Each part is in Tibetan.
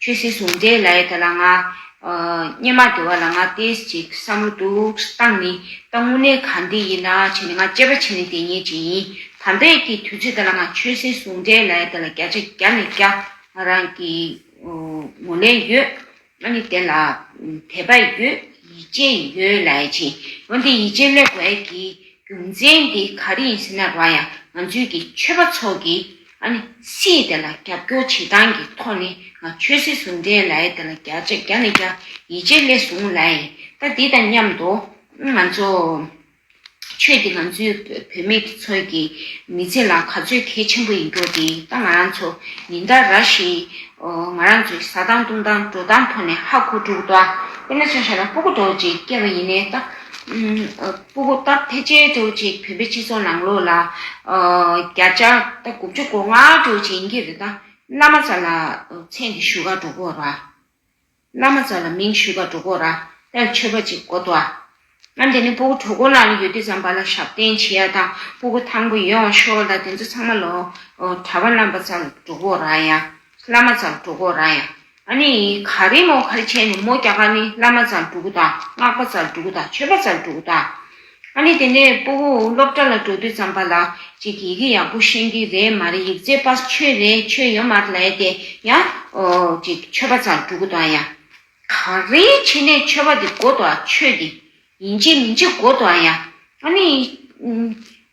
ཆོས་སྲིད་ཟུང་འབྲེལ་ལ་ཡི་ད་ལ་ང། སྙེ་མ་དེ་བ་ལ་ང་ཏེས་ཅིག་བསམ་བློ་འདུག་སྟངས་ནི་ད་དངོས་གནས་གང་འདི་ཡིན་ན་བྱས་ནས་ང་སྐྱེས་པ་ཆེ་ནས་དེ་ཉེས་ཅན་ཡིན་དམ་པས་ཀྱི་དུས་ཚོད་ད་ལ་ང་ཆོས་སྲིད་ཟུང་འབྲེལ་ལ་ཡི་ད་ལ་བརྒྱ་ཆ་བརྒྱ་ནས་བརྒྱ་ང་རང་གི་ངོ་ལེན་ཡོད་ང་ནི་དེ་ལ་དད་པ་ཡོད་ཡིད་ཆེས་ཡོད་ལ་ཡི་ཆེན་འོན་ཏེ་ཡིད་ཆེས་སླེབས་བས་ཀྱི་རྒྱུ་མཚན་འདི་ག་རེ་ཡིན་ཟེར་ན་ར་ཡང་ང་ཚོའི་གི་ཆོས་པ་ཚོ་གི་ཨ་ནི་སིའི་དེ་ལ་རྒྱབ་སྐྱོར་བྱེད་སྟངས་ཀྱི་ཐོག་ནས་ང་ཆོས་སྲིད་ཟུང་འབྲེལ་ལ་ཡི་དེ་ལ་རྒྱ་ཆེ་རྒྱ་ནས་རྒྱ་ཡིད་ཆེས་སླེ་ཟུང་ལ་ཡི་ད་འདི་དང་མཉམ་དུ་ང་ཚོ་ཆོས་འདི་ང་ཚོའི་བུད་མེད་ཀྱི་ཚོས་ཀྱི་མི་ཚེ་ལ་ག་ཚོད་གལ་ཆེན་པོ་ཡིན་རྒྱུ་དེ་ད་ང་རང་ཚོ་ཉིན་ལྟར་ར་ཤི་ང་རང་ཚོའི་ཟ་སྟངས་བཏུང་སྟངས་འགྲོ་སྟངས་ཐོག་ནས་ཧ་གོ་དྲུག་ད་དཔེར་ན་ཆང་ཤ་ལ་སྤུ་གུ་འདོགས་རྗེས་སྐྱེ་བ་ཡིན་ནས་ད་སྤུ་གུ་སྟབས་ཐེ་ཆེ་དྲུག་ཅིག་བོད་པའི་སྤྱི་ཚོགས་ནང་ལོ་ལ་བརྒྱ་ཆ་དགུ་བཅུ་གོ་ལྔ་དྲུག་ཅིག་ཡིན་གྱི་རེད་ད། བླ་མ་ཚ་ལ་མཚན་གྱི་བཞུགས་སྒར་འགྲོ་དགོས་ར། བླ་མ་ཚ་ལ་མིང་བཞུགས་སྒར་འགྲོ་དགོས་ར་དེར་མཆོད་པ་ཅིག་གོ་ཏོ་ཨ། ང་འདི་ནས་སྤུ་གུ་གྲོ་གོ་ལ་ཡོད་དུས་ཙམ་པ་ལ་ཞབས་བརྟན་བྱེད་ཡ་དང་སྤུ་གུ་ཐང་པོ་ཡོད་འོང་ཤོག་ལ་དེ་ཚོ་ཚང་མ་ལོ་གྲྭ་བ་རྣམ་པ་ཚ་ལ་འགྲོ་དགོས་ར་ཡ། བླ་མ་ཙམ་འགྲོ་གོ་རང་ཡང་ཨ་ནི་ཡིན་ག་རེ་མོ་ག་རེ་བྱས་ནས་མོ་རྒྱ་གར་ནི་བླ་མ་ཙམ་འགྲོ་གོ་དང་སྔགས་པ་ཙམ་འགྲོ་གོ་དང་ཆོས་པ་ཙམ་འགྲོ་གོ་དང། ཨ་ནི་དེ་ནས་སྤོ་བོ་སློབ་གྲྭ་ལ་འགྲོ་དུས་ཙམ་པ་ལགས་ཅིག་གིས་ཡི་གེ་ཡག་པོ་ཤེས་ཀྱི་རེད་མ་རེད་ཡིག་རྩེ་པ་ཆོས་རེད་ཆོས་ཡོད་མ་རེད་དེ་ཡང་ཅིག་ཆོས་པ་ཙམ་འགྲོ་གོ་དང་ཡང་ག་རེ་བྱས་ནས་ཆོས་པ་དེ་གོ་དང་ཆོས་དེ་ཡིན་གྱི་མིན་གྱི་གོ་དང་ཡང་ཨ་ནི་ཡིན།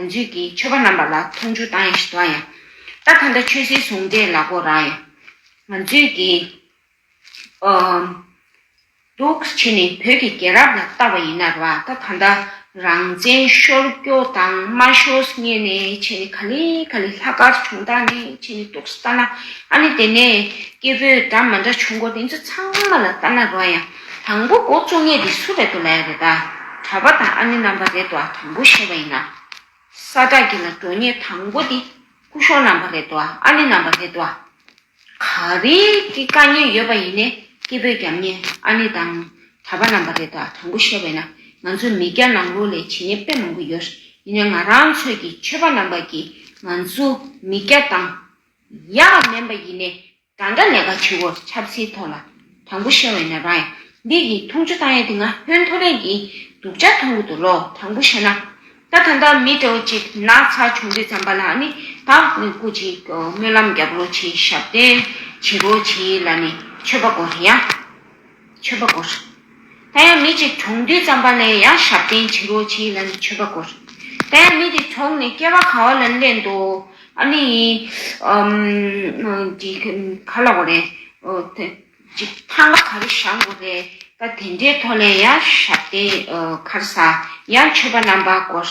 ང་ཚོས་ཀྱིས་ཆོས་པ་རྣམ་པ་ལ་མཐོང་ཆུང་བཏང་ཡང་ཞི་བཏང་ཡང། ད་གང་ལྟར་ཆོས་སྲིད་ཟུང་འབྲེལ་ལ་གོ་རང་ཡང། ང་ཚོས་ཀྱིས། འདུག་བྱེད་ནི་བོད་ཀྱི་རྒྱལ་རབས་ལ་བལྟ་བ་ཡིན་ནར་བ་ད་གང་ལྟར་རང་བཙན་ཤོར་སྐྱོ་དང་མ་ཤོར་ངེས་ནས་བྱས་ནས་ག་ལི་ག་ལི་ལྷ་སྐར་བྱུང་ད་ནས་བྱས་ནས་འདུག་བལྟ་ན་ཨ་ནི་དེ་ནས་སྐྱེ་བོས་འདྲ་མ་འདྲ་བྱུང་སྐོར་དེ་ཚོ་ཚང་མ་ལ་བལྟ་ན་རོ་ཡང། དང་པོ་སྒོ་བཅུ་གཉིས་འདི་སུ་རེད་དོ་ལེགས་རེད་ད་གྲ་པ་དང་ཨ་ནེ་རྣམ་པ་རེད་དོ་ཨ་དང་པོ་ཤེས་པ་ཡིན་ན་ས་བཀྲ་གི་ལ་འགྲོ་ཉེ་དང་པོ་འདི་སྐུ་གཞོང་རྣམ་པ་རེད་དོ་ཨ་ཨ་ནེ་རྣམ་པ་རེད་དོ་ཨ་ག་རེ་གི་དཀའ་ཉེན་ཡོད་པ་ཡིན་ནས་སྐྱེ་བོས་རྒྱབ་ཉེ་ཨ་ནེ་དང་གྲ་པ་རྣམ་པ་རེད་དོ་ཨ་དང་པོ་ཤེས་པ་ཡིན་ན་ང་ཚོ་མི་སྐྱ་ནང་ལོག་ལས་བྱེད་ཉེ་དཔེ་མང་པོ་ཡོད་ཡིན་ནས་ང་རང་ཚོས་ཀྱི་ཆོས་པ་རྣམ་པ་གིས་ང་ཚོ་མི་སྐྱ་དང་ཡག་མེན་པ་ཡིན་ནས་གང་འདྲ་ནད་ཀ་ཆུ་བོར་ཁྱབ་ཚེའི་ཐོག་ལ་དང་པོ་ཤེས་བས་ན་རང་ཡང་འདི་ཡིས་འཐུང་ཆུ་བཏང་ཡས་དེ་ང་ཕོན་ཐོ་རེངས་ཀྱིས་དུག་ཆ་འཐུང་གི་འདུག་ལོ་དང་པོ་ཤེས་ན་ད་ད་ལྟ་མི་སྤྲེའུ་གཅིག་ནག་ཚ་བྱུང་དུས་ཙམ་པ་ལ་ནི་བག་མེད་སྐུ་གཅིག་སྨོན་ལམ་རྒྱབ་རོགས་བྱེད་ཞབས་བརྟན་བྱེད་རོགས་བྱེད་ལ་ནི་ཆོས་པ་དགོ་རེད་ཡ། མཆོད་པ་བསྐོར། ད་ཡང་མི་གཅིག་གྲོང་དུས་ཙམ་པ་ནས་ཡང་ཞབས་བརྟན་བྱིན་རོགས་བྱིན་ལ་ནི་མཆོད་པ་བསྐོར། ད་ཡང་མི་དེ་གྲོང་ནས་སྐྱེ་བ་གང་བ་ལ་ནི་སླེབས་འདུག་ཨ་ནི་ཡིན། འདི་ག་ལ་བ་རེད། ཅིག་ཐང་ག་ག་རེ་བཞག་འགོ་རེད། ད་དེ་འདྲའི་ཐོག་ནས་ཡང་ཞབས་བརྟན་ཁར་ས་ཡང་མཆོད་པ་རྣམ་པ་བསྐོར།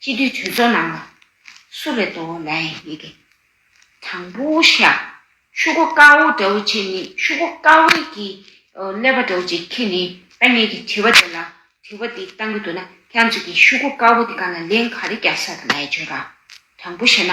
སྤྱི་འཐུས་གྲོས་ཚོགས་ནང་ལ་སུ་རེད་དོ་ལན་ཡེ་གེ། དང་པོ་ཤ་ཤུ་གོ་དཀའ་བོ་འདྲ་བོ་ཁྱེད་ནི་ཤུ་གོ་དཀའ་བོ་གི་ཀླད་པ་འདྲ་བོ་ཅིག་ཁྱེད་ནི་ཨ་མྱེས་ཀྱི་དྲི་བ་དེ་ལ་དྲི་བ་འདི་གཏང་གི་འདུག་ན་ཁྱང་ཅིག་གི་ཤུ་གོ་དཀའ་བོ་དེ་ག་ལ་ལན་ག་རེ་རྒྱག་ས་དང་ལན་བརྗོད་ར་དང་པོ་བཤད་ན།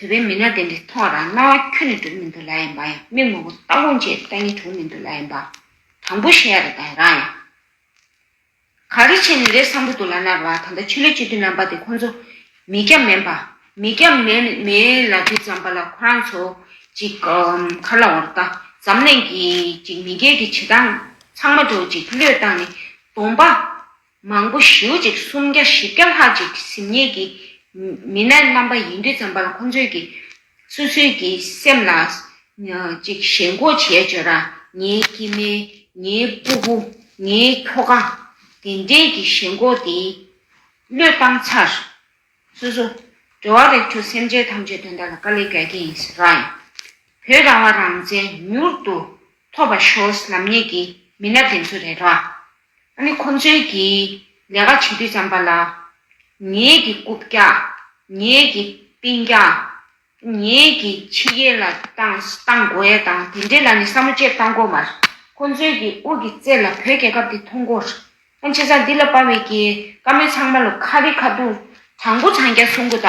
བོད་པའི་མི་སྣ་དེ་འདྲའི་ཐོག་ལ་རྣ་བ་ཁྱོད་ནས་དྲུང་མི་འདུག་ལ་ཡིན་པ་ཡང་མི་ངོ་བོ་ལྟ་ལོངས་བཅས་ལྟ་ཉན་དྲུང་མི་འདུག་ལ་ཡིན་པ། དང་པོ་ཤེས་ཡ་རེད་དང་རང་ཡང། ག་རེ་བྱས་ནས་རེད་བསམ་གྱི་འདུག་ལ་ནར་བ་ད་ལྟ་ཆོས་ལུགས་སྤྱི་འཐུས་རྣམ་པ་དེ་ཁོང་ཚོ་མི་སྐྱབས་མེད་པ། མི་སྐྱབས་མེད་ལ་དུས་ཙམ་པ་ལ་ཁོ་རང་ཚོ་ཅིག་མཁར་ལ་འོར་བལྟ་འཛམ་གླིང་གི་ཅིག་མི་སྒེར་གྱི་བྱེད་སྟངས་ཚང་མ་འགྲོ་ཅིག་བློས་བཏང་ནས་དོང་པ། མང་པོ་ཞེའུ་གཅིག་སུམ་བརྒྱ་བཞི་བརྒྱ་ལྷག་ཅིག་གཟིམས་ཉལ་གྱི་མི་སྣ་རྣམ་པ་ཡིན་དུས་ཙམ་པར་ཁོང་ཚོས་ཀྱི་སོ་སོའི་ཀྱི་སེམས་ལ་ཅིག་ཞེན་སྒོ་འབྱེད་བརྗོད་ར་ངའི་སྐྱི་སྨེ་ངའི་སྤུ་བུ་ངའི་ཁྱོ་ག་དེ་འདྲའི་ཀྱི་ཞེན་སྒོ་དེས་བློས་བཏང་ཚར་སོ་སོ་འབྲེལ་བ་རེག་ཆོག་སེམས་ཅན་ཐམས་ཅད་དོན་དག་ལ་དཀའ་ལས་བརྒལ་གྱི་ཡིན་ཟེར་ར་ཡིན་བོད་རང་དབང་རང་བཙན་མྱུར་དུ་ཐོབ་པ་ཤོར་ལམ་ཉེས་ཀྱི་མི་སྣ་དེ་ཚོ་རེད་ར། ད་ནི་ཁོང་ཅག་གིས་ལས་ཀ་བྱེད་དུས་བྱམས་པ་ལ། ངེད་ཀྱི་རྐུབ་བཀྱག། ངེད་ཀྱི་རྟིང་བཀྱག། ངེད་ཀྱི་ཕྱི་གཡས་ལ་བཏང་བཏང་དགོས་ཡ་དང་དེ་འདྲས་ལ་ནི་བསམ་བློ་བཅས་བཏང་དགོས་མ་རེད། ཁོང་ཚོའི་གི་དབུས་ཀྱི་རྩེ་ལ་བོད་རྒྱལ་ཁབ་དེ་མཐོང་དགོས་རེད། ཁོང་ཆེ་ས་འདི་ལ་དཔའ་བའི་གི་བཀའ་མོལ་ཚང་མ་ལ་ཁ་རི་ཁ་ཐུག་དྲང་པོ་དྲང་རྒྱ་གསུང་དགོས་ད།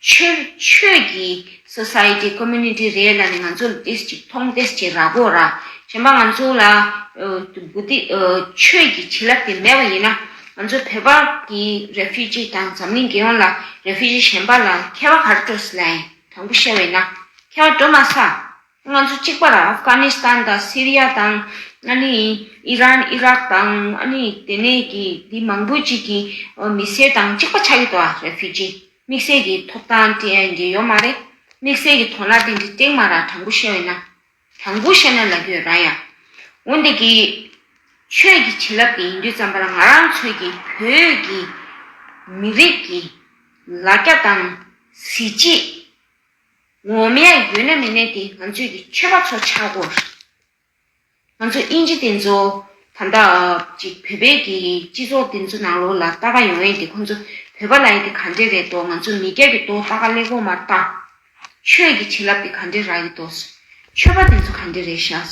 ཆོས་ཆོས་ཀྱི Society Community རེད་ལ་ནི་ང་ཚོ་ལ་དེ་ཅིག་མཐོང་དེ་ཅིག་རག་གོ་ར་གཞན་པ་ང་ཚོ་ལ་བུ་ཏི་ཆོས་ཀྱི་བྱིན་རླབས་དེ་མེད་པ་ཡིན་ན་ང་ཚོ་བོད་པ་གི Refugee དང་འཛམ་གླིང་རྒྱལ་ཡོངས་ལ Refugee གཞན་པ་ལ་མཁས་པ་ག་རེ་སྤྲོ་ས་ལ་ཡིན་དང་པོ་ཤེས་པ་ཡིན་ན་མཁས་པ་སྤྲོ་མ་ས། ང་ཚོ་གཅིག་པར་ཨབ་གྷ་ནི་སི་ཐན་དང་སི་རི་ཡ་དང་ཨི་རན་ཨི་རག་དང་དེ་ནས་ཀྱི་དེ་མང་པོའི་གཅིག་གི་མི་སེར་དང་གཅིག་པ་ཆགས་ཀྱི་འདུག་ཨ་རེ་ཕི་ཇི་དམིགས་བསལ་གྱི་ཐོབ་ཐང་འགེལ་ཡོད་མ་རེད། དམིགས་བསལ་གྱི་དོན་ལ་དེ་འདྲའི་སྟེང་མ་ར་དྲང་པོ་བཤད་འོས་ན། དྲང་པོ་བཤད་ན་ལ་རྒྱོས་ར་ཡ། འོན་ཏེ་གི། ཆོས་ཀྱི་བྱིན་རླབས་ཀྱི་ཡིན་དུས་ཙམ་པར་ང་རང་ཚོས་ཀྱི་བོད་ཀྱི་མི་རིགས་ཀྱི་ལ་རྒྱ་དང་གཟི་བརྗིད། འོ་མ་ཡང་ཡོད་ན་མི་གནས་ཏེ་ང་ཚོས་ཀྱི་མཆོད་པ་ཚོ་ཆག་གོ། ང་ཚོ་དབྱིན་ཇི་དེ་ཚོ་ད་ལྟ་ཅིག་བོད་པའི་ཀྱི་སྤྱི་ཚོགས་དེ་ཚོ་ནང་ལོག་ལ་ལྟ་ག་ཡོང་ཡས་དེ་ཁོ་ཚོ་བོད་པ་ལ་ཡས་དེ་ག་འདྲས་རེད་དོ་ང་ཚོ་མི་སྐྱ་གི་དོ་ལྟ་ག་ལེགས་པོ་མ་ལྟ། ཆོས་ཀྱི་བྱིན་རླབས་དེ་ག་འདྲས་རག་གི་དོ། མཆོད་པ་དེ་ཚོ་ག་འདྲས་རེད་ཤག།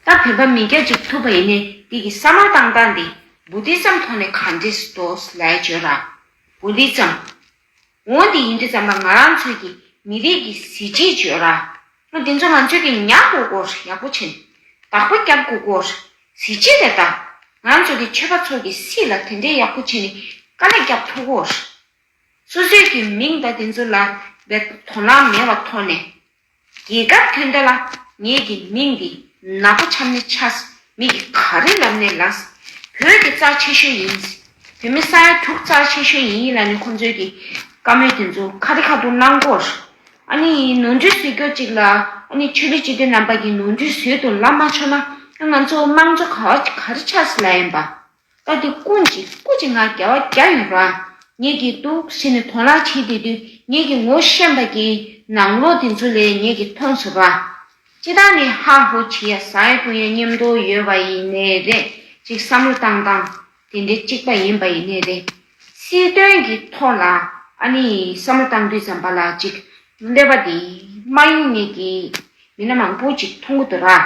ལྟ་བོད་པ་མི་སྐྱ་ཅིག་ཐུབ་པ་ཡིན་ནས་དེ་ཀྱི་ས་མ་བཏང་བཏང་དེ་བུ་དྷི་ཙམ་ཐོག་ནས་ག་འདྲས་སུ་དོ་ལའི་བྱོས་ར། བུ་དྷི་ཙམ། འོན་ཏེ་ཡིན་དུས་ཙམ་པ་ང་རང་ཚོས་ཀྱིས་མི་རིགས་ཀྱི་གཟི་བརྗིད་བརྗོད་ར། མོ་འདི་ཚོ་ང་ཚོས་ཀྱིས་ཉག་སྐུ་སྒོར་ཡག་པོ་བྱིན། བདག་པོ་སྐྱབས་སྐུ་སྒོར་གཟི་བརྗིད་རེད་ད། ང་རང་ཚོ་གི་ཆོས་པ་ཚོ་གི་སྲིད་ལ་དེ་འདྲའི་ཡག་པོ་བྱིན་ནི་དཀའ་ལས་སྐྱབས་ཕུ་སྒོར། སོ་སོས་ཀྱིས་མིང་བརྡ་དེ་ཚོ་ལ་བའི་དོ་སྣང་མེད་བ་མཐོང་ནས། རྒྱལ་ཁབ་དོན་དག་ལ་ངེད་ཀྱི་མིང་འདི་ནག་པོ་ཆམ་ནས་ཆགས། མི་གི་ག་རེ་ལབ་ནས་ལགས། བོད་ཀྱི་རྩ་ཆེ་ཤོས་ཡིན། བོད་མི་ས་ཡ་དྲུག་རྩ་ཆེ་ཤོས་ཡིན་ཡིན་ལ་ནི་ཁོང་ཚོའི་གི་བཀའ་མོལ་དེ་ཚོ་ཁ་རི་ཁ་ཐུག་གནང་སྐོར། ཨ་ནི་ནོར་འཁྲུལ་བཟོས་སྐྱོར་ཅིག་ལ་ཨ་ནི་ཆོས་ལུགས་སྤྱི་དོན་རྣམ་པ་གི་ནོར་འཁྲུལ་བཟོས་དུ་ལབ་མ་ཆོག་ན་ང་ཚོ་དམངས་གཙོ་ག་རེ་ཆགས་སི་ལ་ཡིན་པ། བཀའ་འདི་ཀུན་གྱི་སྐུ་ཅིག་ང་རྒྱལ་བ་བརྒྱ་ཡོང་འགྲོ་ཨང། ངེད་ཀྱིས་འདུག་ཟེར་ནས་དོང་རག་བྱེད་དེ་དུས་ངེད་ཀྱི་ངོ་ཤེས་པ་ཀྱིས་ནང་ལོག་དེ་ཚོ་ལས་ངེད་ཀྱིས་མཐོང་ཟེར་རོ་ཨང། ཅི་ད་ནི་ཧ་ཧོ་བྱེད་ཡ་ཟ་ཡ་གཏོང་ཡ་སྙེམས་དོགས་ཡོད་པ་ཡི་ནས་རེད་ཅིག་བསམ་བློ་བཏང་བཏང། དེ་འདྲའི་གཅིག་པ་ཡིན་པ་ཡི་ནས་རེད། སྲིད་དོན་གྱི་ཐོག་ལ་ཨ་ནི་བསམ་བློ་བཏང་དུས་ཙམ་པ་ལ་ཅིག་འདོད་པ་དེ་མ་ཡོང་ངེད་ཀྱིས་མི་སྣ་མང་པོ་ཅིག་མཐོང་གི་འདུག་ར།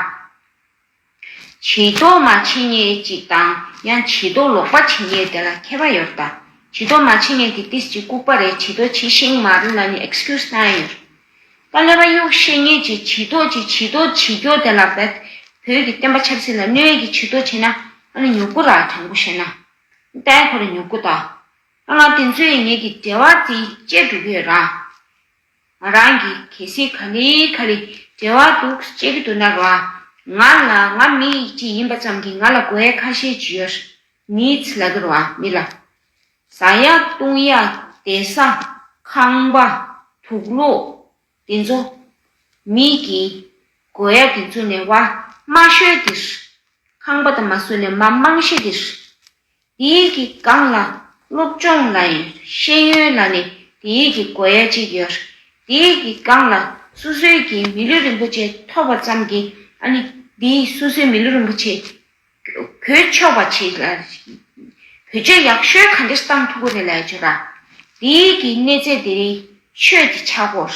བྱི་དོར་མ་ཇི་སྙེད་ཅིག་དང་ཡང་བྱི་དོར་ལོག་པ་ཇི་སྙེད་དེ་ལ་མཁས་པ་ཡོད་དང་བྱི་དོར་མ་ཇི་སྙེད་ཀྱི་ཏིས་ཅིག་ལྐུགས་པ་རེད་བྱི་དོར་ཇི་བཞིན་མ་རུལ་ལ་ནི Excuse གནང་ཡོད། དཀའ་ལས་པ་གཡུག་ཤེས་ངེས་ཀྱི་བྱི་དོར་གྱི་བྱི་དོར་བྱེད་རྒྱུ་དེ་ལ་བེད། བོད་ཀྱི་བསྟན་པ་ཆབ་སྲིད་ལ་གནོད་ཀྱི་བྱི་དོར་བྱེད་ན་ཨ་ནི་མྱུ་གུ་ར་དྲང་པོ་བཤད་ན། ལྟའི་གོ་ར་མྱུ་གུ་དང། ཨ་ལ་དེ་ཚོའི་ངེད་ཀྱི་འབྲེལ་བ་དེ་བཅད་འགྲོ་གི་ཡོད་རང། ང་རང་གིས་གལ་སྲིད་ག་ནས་ག་རེ་འབྲེལ་བ་འདུག་ཅེས་གི་འདུག་ན་བ། ང་ལ་ང་མི་ཡིག་ཅིག་ཡིན་པ་ཙམ་གྱིས་ང་ལ་དགོས་ཡ་ཁ་ཤས་ཅི་ཡོད། needs ལ་འགྱུར་བ་མི་ལ། ཟ་ཡ་བཏུང་ཡ་བདེ་ས་ཁང་པ་དུག་སློག་དེ་ཚོ། མི་ཡིག་གིས་དགོས་ཡ་དེ་ཚོ་ནས་བ། མ་ཤོད་དེ། ཁང་པ་དང་མ་སོད་ནས་མ་མང་ཤེས་དེ། དེའི་གི་སྒང་ལ་སློབ་སྦྱོང་ན་ཡང་ཤེས་ཡོན་ལ་ནི་དེའི་གི་དགོས་ཡ་གཅིག་ཡོད། དེའི་གི་སྒང་ལ་སོ་སོའི་གི་མི་ལུས་རིན་པོ་ཆེ་ཐོབ་པ་ཙམ་གྱིས་ཨ་ནི་དེའི་སོ་སོའི་མི་ལུས་རིན་པོ་ཆེ་བོད་ཆོས་པ་ཆེ་ལ་བོད་ཆོས་ཡག་ཤོས་ག་འདྲེ་གསང་ཐུག་གོ་རེ་ལ་ཡ་ཆོས་ར། དེའི་གི་གནས་ཚད་དེ་རིང་ཆོས་ཀྱི་ཆག་སྒོར།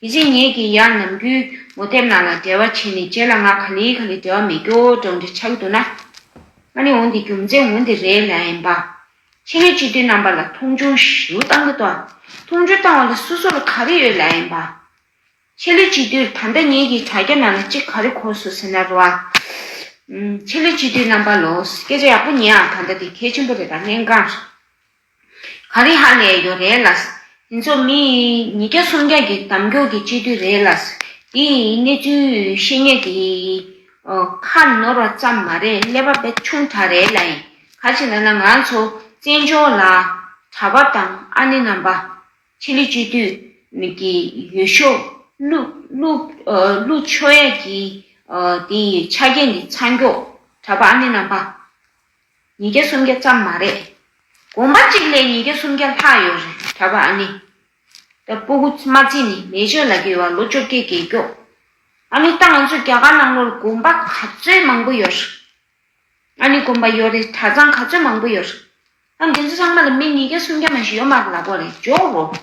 དེ་ཕྱིར་ངེད་ཀྱིས་ཡང་ནམ་རྒྱུན་ངོ་དེབ་ནང་ལ་འབྲེལ་བ་བྱས་ནས་རྗེས་ལ་ང་ག་ལེའི་ག་ལེ་འབྲེལ་བ་མེད་རྒྱོ་སྒྲོག་འདྲ་ཆགས་ཀྱི་འདུག་ན། ང་ནི་འོན་ཏེ་རྒྱུ་མཚན་འོན་ཏེ་རེད་ལ་ཨེ་འབའ། ཕྱི་སྣོད་སྤྱི་མཐུན་རྣམ་པ་ལ་མཐོང་ཆུང་ཞུ་བཏང་གི་འདུག་མཐོང་ཆུང་བཏང་བ་ལ་སོ་སོ་ལ་ག་རེ་ཡོད་ལ་ཨེ་འབའ། ཕྱི་ལོ་གཅིག་དུས་ད་ལྟ་ངེད་ཀྱིས་དྲ་རྒྱ་ནང་ལ་ཅི་ག་རེ་གོ་སོ་ཟེར་ན་རོ་ཨ། ཕྱི་ལོ་གཅིག་དུས་རྣམ་པ་ལོ། སྐད་ཆ་ཡག་པོ་ཉན་ཨ་ད་ལྟ་དེ་གལ་ཆེན་པོ་རེད་ད་གནད་འགངས་རེད། ག་རེ་ཧ་ལས་ཡོད་རེད་ལགས། དེ་ཚོ་མི་ཉིས་བརྒྱ་སུམ་བརྒྱ་གི་དམ་རྒྱུག་གི་སྤྱི་འཐུས་རེད་ལགས། དེ་ཡི་གནས་ཚུལ་ཤེས་ཉེས་ཀྱི་ཁ་ནོར་བ་ཙམ་མ་རེད་ཀླད་པ་བེད་ཆུང་དྲག་རེད་ལ་ཡིན་ག་ཅིག་ལ་ན་ང་ཚོ་བཙན་བྱོལ་ལ་གྲྭ་པ་དང་ཨ་ནེ་རྣམ་པ། ཆི་ལི་སྤྱི་འཐུས་ཀྱི་ཡུལ་ཤོགཀླུ་ཆོས་ཡ་ཀྱི་དེ་ཡི་ཆ་རྐྱེན་གྱི་ཚ་འགྱོག་གྲྭ་པ་ཨ་ནེ་རྣམ་པ། ཉིས་བརྒྱ་སུམ་བརྒྱ་ཙམ་མ་རེད། དགོན་པ་གཅིག་ལས་ཉིས་བརྒྱ་སུམ་བརྒྱ་ལྷག་ཡོད་རེད་གྲྭ་པ་ཨ་ནེ། ད་སྤུ་གུ་རྨ་ཚེ་ནི་མེ་ཆོས་ལ་བརྒལ་བ་ལོ་བཅོ་བརྒྱད་བརྒལ་རྒྱོགས། ཨ་ནེ་ལྟ་ང་ཚོ་རྒྱ་གར་ནང་ལོར་དགོན་པ་ག་ཚོད་མང་པོ་ཡོད་རེད། ཨ་ནེ་དགོན་པ་ཡོད་རེད་གྲྭ་ཚང་ག་ཚོད་མང་པོ་ཡོད་རེད། ད་འདི་ཚོ་ཚང་མ་ལ་མི་ཉིས་བརྒྱ་སུམ་བརྒྱ་མ་ཞིག་ཡོད་མ་ལགས་པ་རེད་འཇོག་རོགས།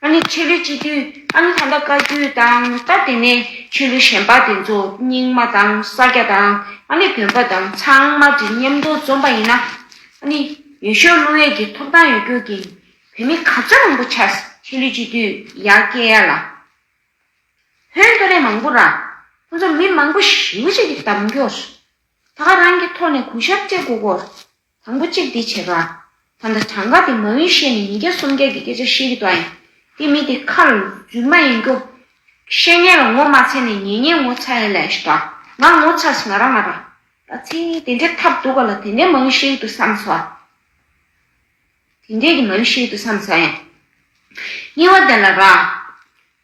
ཨ་ནི་ཆོས་ལུགས་སྤྱི་འཐུས་ཨ་ནི་ད་ལྟ་བཀའ་བརྒྱུད་དང་སྟབས་བདེ་ནས་ཆོས་ལུགས་གཞན་པ་དེ་ཚོ་རྙིང་མ་དང་ས་སྐྱ་དང་ཨ་ནི་བོན་པ་དང་ཚང་མ་དྲི་སྙེམས་མདོ་འཛོམས་པ་ཡིན་ན་ཨ་ནི་ཡོད་ཤོག་བསླུ་བས་ཀྱི་ཐོབ་ཐང་ཡོད་རྒྱུ་གིན་བོད་མི་ག་ཚོད་མང་པོ་ཆར་ཆོས་ལུགས་སྤྱི་འཐུས་ཡ་སྐད་ཡ་ལ་བོན་ཐོ་རེ་མང་པོ་ར་ཁོ་ཚོ་མི་མང་པོ་ཞི་བ་ཅིག་གི་དམ་འགྱོགས་སུ་ད་ག་རང་གི་ཐོག་ནས་གུ་ཤར་སྤྲད་དགོས་སྐོར། དང་པོ་གཅིག་འདི་བྱེད་པ། ད་ལྟ་གྲངས་ཀ་དེ་མ་ཡུན་བཤད་ནས་ཉིས་བརྒྱ་སུམ་བརྒྱ་གི་སྐད་ཆ་བཤད་ཀྱི་འདུག་ཨང། དེ་མི་དེ་ཁ་ལ་འཇུག་མ་ཡིན་རྒྱུ། བཤད་ཉན་ལ་ངོ་མ་ཚས་ནས་ཉན་ཉན་ངོ་ཚ་ཡིན་ལས་ཞེས་པ། ང་ངོ་ཚ་སི་ང་རང་ང་རང། ད་ཚེ་དེ་འདྲའི་ཐབས་འདུག་ག་ལ་དེ་འདྲའི་མ་ཡུན་བཤད་ཀྱི་འདུག་བསམ་ས། དེ་འདྲའི་གི་མ་ཡུན་བཤད་ཀྱི་འདུག་བསམ་ས་ཡང། སྙིང་བ་དེ་ལ་རག།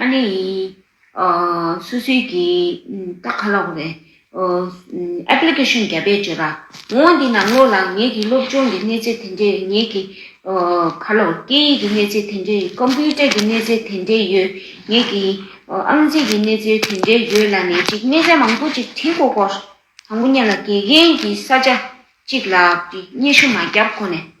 ཨ་ནེ་ཡིས། སུ་སུའི་གི། ཏག་ཁ་ལོག་རེད། Application རྒྱ་བལ་བཅོས་པ། འོང་འདི་ན་བློ་ལ་ངེད་ཀྱི་སློབ་སྦྱོང་གི་གནས་ཚད་དེ་འདྲའི་ངེད་ཀྱི། ཁ་ལོག་སྐད་ཡིག་གི་གནས་ཚད་དེ་འདྲའི་ཡོད Computer གི་གནས་ཚད་དེ་འདྲའི་ཡོད་ངེད་ཀྱི། ཨང་རྩིས་གི་གནས་ཚད་དེ་འདྲའི་ཡོད་ལ་ནས་ཅིག་གནས་ཚད་མང་པོ་ཅིག་བྲིས་གོ་གོ། དང་པོ་གཉེན་ལ་དགེ་རྒན་གྱི་ས་ཆ་གཅིག་ལ་བརྙས་ཤུ་མ་རྒྱབ་ཁོ་ནས།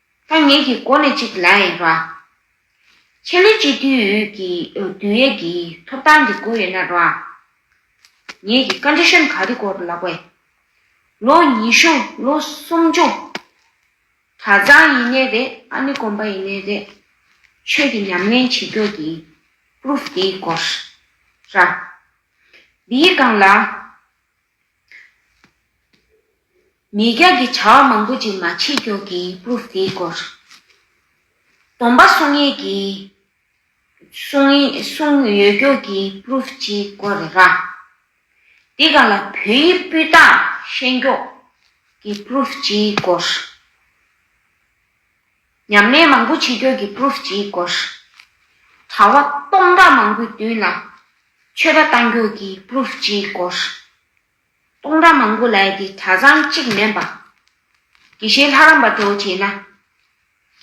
ཐ་སྙད་ཀྱི་སྒོ་ནས་གཅིག་ལ་དབྱེ་བ། ཆེད་ལས་སྤྱི་འཐུས་ཡོད་ཀྱི་དུས་ཡོད་ཀྱི་ཐོབ་ཐང་གི་སྒོ་ཡོད་ན་རོགས་ཨ། ངེད་ཀྱི Condition ག་རེ་སྐོར་ལ་བའི། ལོ་གཉིས་ཤོང་ལོ་གསུམ་སྦྱོང། གྲ་ཚང་ཡིན་ནའི་རེད་ཨ་ནི་གོམས་པ་ཡིན་ནའི་རེད། ཆོས་ཀྱི་ཉམས་ལེན་བྱེད་མགྱོགས་ཀྱི Proof དེའི་སྐོར་ར། འདིའི་སྒང་ལ། ངེད་རྒྱ་གི་བྱ་བ་མང་པོ་ཅིག་མ་བྱེད་མགྱོགས་ཀྱི proof དེའི་སྐོར། སྡོམ་པ་གསུང་ཡས་ཀྱི་གསུང་ཡོད་མགྱོགས་ཀྱི proof སྤྱིའི་སྐོར་རེད་ར། འདི་ག་ལ་བོད་ཡིག་སྤུས་དག་ཤེས་མགྱོགས་ཀྱི proof སྤྱིའི་སྐོར། ཉམས་ལེན་མང་པོ་བྱེད་ཁྱོད་ཀྱི Proof ཇི་དགོས། གྲྭ་བ་སྟོང་ཕྲག་མང་པོའི་མདུན་ལ། ཆོས་པ་བཏང་ཁྱོད་ཀྱི Proof ཇི་དགོས། སྟོང་ཕྲག་མང་པོ་ལ་ཡི་དེ་གྲྭ་ཚང་གཅིག་མིན་པ། དགེ་བཤེས་ལྷ་རམས་པ་འགྲོ་བྱེད་ན།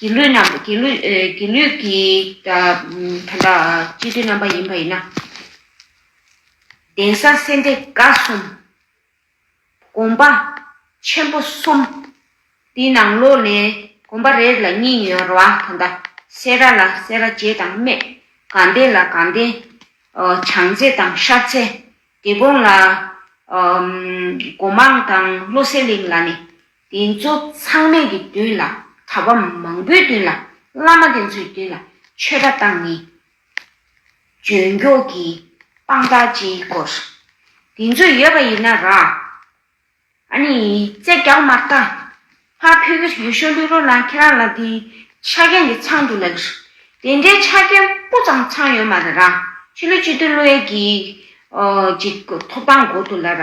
དགེ་ལུས་རྣམ་པ་དགེ་ལུས་དགེ་ལུས་ཀྱི་དེ་འདྲ་སྤྱི་འཐུས་རྣམ་པ་ཡིན་པ་ཡིན་ན། གདན་ས་སེ་འབྲས་དགའ་གསུམ་སྒོམ་པ། ཆེན་པོ་གསུམ། དེའི་ནང་ལོགས་ནས་སྒོམ་པ་རེར་ལ་གཉིས་ཡོད་ར་བ་ད་ལྟ་སེ་ར་ལ་སེ་ར་རྗེ་དང་སྨད་གངས་ལྡན་ལ་གངས་ལྡན། བྱང་རྩེ་དང་ཤར་རྩེ། སྡེ་དགོན་ལ། སྒོ་མང་དང་བློ་གསལ་གླིང་ལ་ནི། དེ་ཚོ་ཚང་མས་ཀྱི་མདུན་ལ་གྲྭ་པ་མང་པོའི་མདུན་ལ་བླ་མ་དེ་ཚོའི་མདུན་ལ་ཆོས་གྲྭ་བཏང་ནི་འཇོན་མགྱོགས་ཀྱི་དཔང་རྟགས་སྤྱིའི་སྐོར། དེ་ཚོ་ཡོད་པ་ཡིན་ན་རང། ཨ་ནི་རྩེ་རྒྱག་མ་རྟ། ཕ་ཕི་གི་ཡུལ་ཤོ་ལུས་རོ་ལངས་ཁྱེད་རང་ལ་དེ་ཆ་རྐྱེན་དེ་ཚང་འདུག་ལགས། དེ་འདྲའི་ཆ་རྐྱེན་སྤུ་ཙམ་ཚང་ཡོད་མ་རེད་རང་ཕྱི་ལོ་བཅུ་བདུན་ལོའི་གི་གི་ཐོབ་ཐང་འགོ་འདུག་ལ་ར།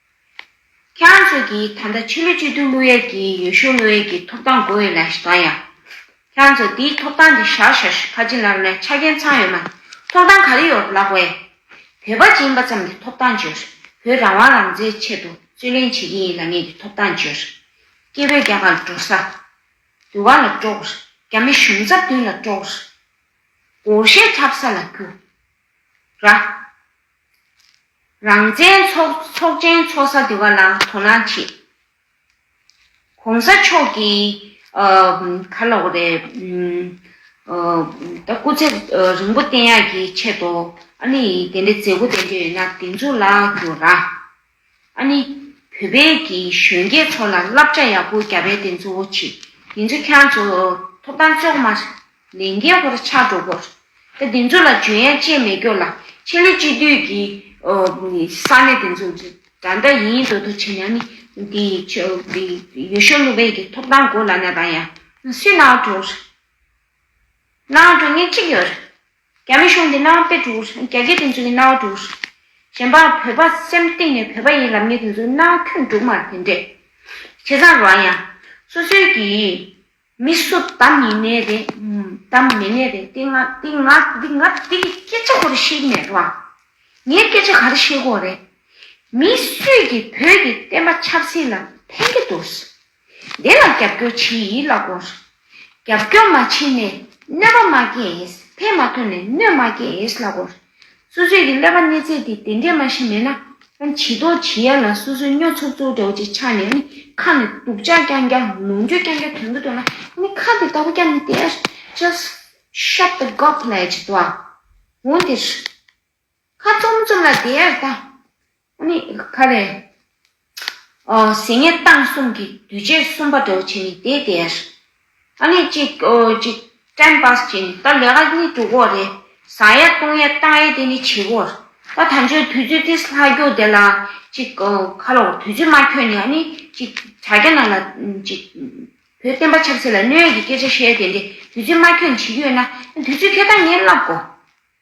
ཁྱེད་རང་ཚོ་གིས་ད་ལྟ་ཕྱི་ལོ་བཅུ་བདུན་དམུ་ཡལ་གྱི་ཡོས་ཤུ་དམུ་ཡལ་གྱི་ཐོབ་ཐང་དགོས་ཡོད་ལ་ཞེས་དང་ཡང། ཁྱེད་རང་ཚོ་དེའི་ཐོབ་ཐང་གི་ཞར་ཞར་ཞུ་ཁ་ཅི་ལར་ལའི་ཆ་རྐྱེན་ཚང་ཡོད་མ་ཐོབ་ཐང་ག་རེ་ཡོད་ལགས་པས། བོད་པ་སྦྱིན་པ་ཙམ་གྱི་ཐོབ་ཐང་བརྗོད། བོད་རང་དབང་རང་བཙན་ཆེད་དུ་རྩོད་ལེན་བྱེད་ཀྱི་ཡིན་ལ་ངེད་ཀྱི་ཐོབ་ཐང་བརྗོད། སྐྱེ་བོས་རྒྱ་གར་ལ་འགྲོ་ས། དུས་བ་ལ་དཀྲོགས། རྒྱ་མི་གཞུང་རྩ་བདུན་ལ་དཀྲོགས། སྒོར་གཞས་འཁྲབ་ས་ལ་རྒྱུ། རང་བཙན་ཚོགས་ཆེན་འཚོགས་ས་དེ་བ་ལ་དོ་སྣང་བྱེད། གོང་ས་མཆོག་གི་ཁ་ལོག་རེད། ད་སྐུ་ཚེ་རིང་པོ་བརྟན་ཡག་གི་ཆེད་དུ་ཨ་ནི་དེ་འདྲའི་མཛད་སྒོ་ལྡན་རྒྱུ་ཡོད་ན་དེ་ཚོ་ལ་རྒྱུ་ར། ཨ་ནི། བོད་པའི་གི་གཞོན་སྐྱེས་ཚོ་ལ་བསླབ་བྱ་ཡག་པོ་རྒྱབ་པའི་དེ་ཚོ་བོ་ཆི་དེ་ཚོ་ཁྱང་ཚོ་ཐོབ་ཐང་ལྕོག་མ་ལས་འགན་ཁོ་ར་ཆག་འགྲོ་གོ་ར་དེ་ཚོ་ལ་འཇོན་ཡག་ཅེས་མེད་ཀྱོ་ལ་ཕྱི་ལོ་གཅིག་དུས་གི་ས་གནས་དེ་ཚོ་འདྲ་འདྲ་ཡིན་དོ་དོ་ཆེ་ན་ནི་དེ་དེ་ཡོ་ཤོ་ལུ་བའི་གི་ཐོབ་ཐང་གོ་ལ་ན་དང་ཡང་སུས་ནའོ་འགྲོ་ར་ནའོ་འགྲོ་ངས་ཁྲིག་ཡོ་ར་རྒྱ་མི་གཞུང་འདི་སྣང་བ་དཔེ་དྲུག་རེད། རྒྱ་སྐད་དེ་ཚོ་ཡི་སྣང་བ་དྲུག་རེད། གཞན་པ་བོད་པ་སེམས་གཏིང་ནས་བོད་པ་ཡིན་ལབ་མི་དེ་ཚོ་སྣང་བ་ཁྱོད་དྲུག་མར་དེ་འདྲས། བྱས་ཙང་རོགས་ཡ། སོ་སོའི་གི། མི་སུ་བདམས་ཡིན་ནའི་རེད། བདམས་མེད་ནའི་རེད། དེ་ང། དེ་ང། དེ་ང། དེ་གི་སྐད་ཆ་ཁོ་ར་ཤེས་ཀྱི་མེད་རོགས་ཨ། ངའི་སྐད་ཆ་ག་ར་ཤེས་དགོས་རེད། མི་སུས་གི་བོད་གི་བསྟན་པ་ཆབ་སྲིད་ལ་ཕན་གི་འདུག། དེ་ལ་རྒྱབ་སྐྱོར་བྱེད་ཡིད་ལ་དགོངས་སོ། རྒྱབ་སྐྱོར་མ་བྱས་ནས་གནོད་པ་མ་སྐྱེས། ཕན་མ་ཐོན་ནས་གནོད་མ་སྐྱེས་ལ་དགོངས་སོ། སོ་སོའི་གི་ཀླད་པ་གནས་ཚད་དེ་དེ་འདྲས་མ་ཞིག་མེད་ན། ཡང་ཇི་ལྟོ་ཇི་ཡ་ལ་སོ་སོའི་སྨྱོ་ཚུགས་ཚུགས་འདྲ་བོ་ཅིག་ཆགས་ནས་ནི་ཁ་ནས་སྡུག་ཅག་རྐྱང་རྐྱང་ལོངས་སྤྱོད་རྐྱང་རྐྱང་དོན་གྱིས་སྟོན་ན་ནི་ཁ་དེ་ལྟ་བུ་རྐྱང་ནི་དེ། Just shut the gob ལས་ཇི་ལྟོ་བ། འོན་ཏེ། ཁ་བཙུམ་བཙུམ་ལ་དེ་ཡར་བཏང། ནི། ཁ་རེ། ཟེ་ཉལ་བཏང་གསུམ་གྱི་དུས་ཆེན་གསུམ་པ་འདོགས་བྱས་ནས་དེ་དེ་ཡར། ནི། གཅིག། གཅིག། ཀྲན་པཱས་བྱས་ནས་ད་ལས་ཀ་གཉིས་དྲུག་འོག་རེད། བཟང་ཡ་བཏུང་ཡ་བཏང་ཡ་དེ་ནི་བྱེད་པོར། ད་ད་འཇོན་དུས་ཚོད་ཏིས་ལྷ་རྒྱུག་དེ་ལ། གཅིག། ཁ་ལོ་དུས་ཚོད་མ་ཁྱོད་ནི། ནི། གཅིག། དྲ་རྒྱ་ནང་ལ། གཅིག། བོད་བསྟན་པ་ཆབ་སྲིད་ལ་གནོད་ཡ་གྱི་སྐད་ཆ་བཤད་དེ་འདྲེ་དུས་ཚོད་མ་ཁྱོད་ནི་བྱེད་རྒྱུ་ཡོད་ན། དུས་ཚོད་ཁྱོད་ད་ངས་བསླབ་གོ།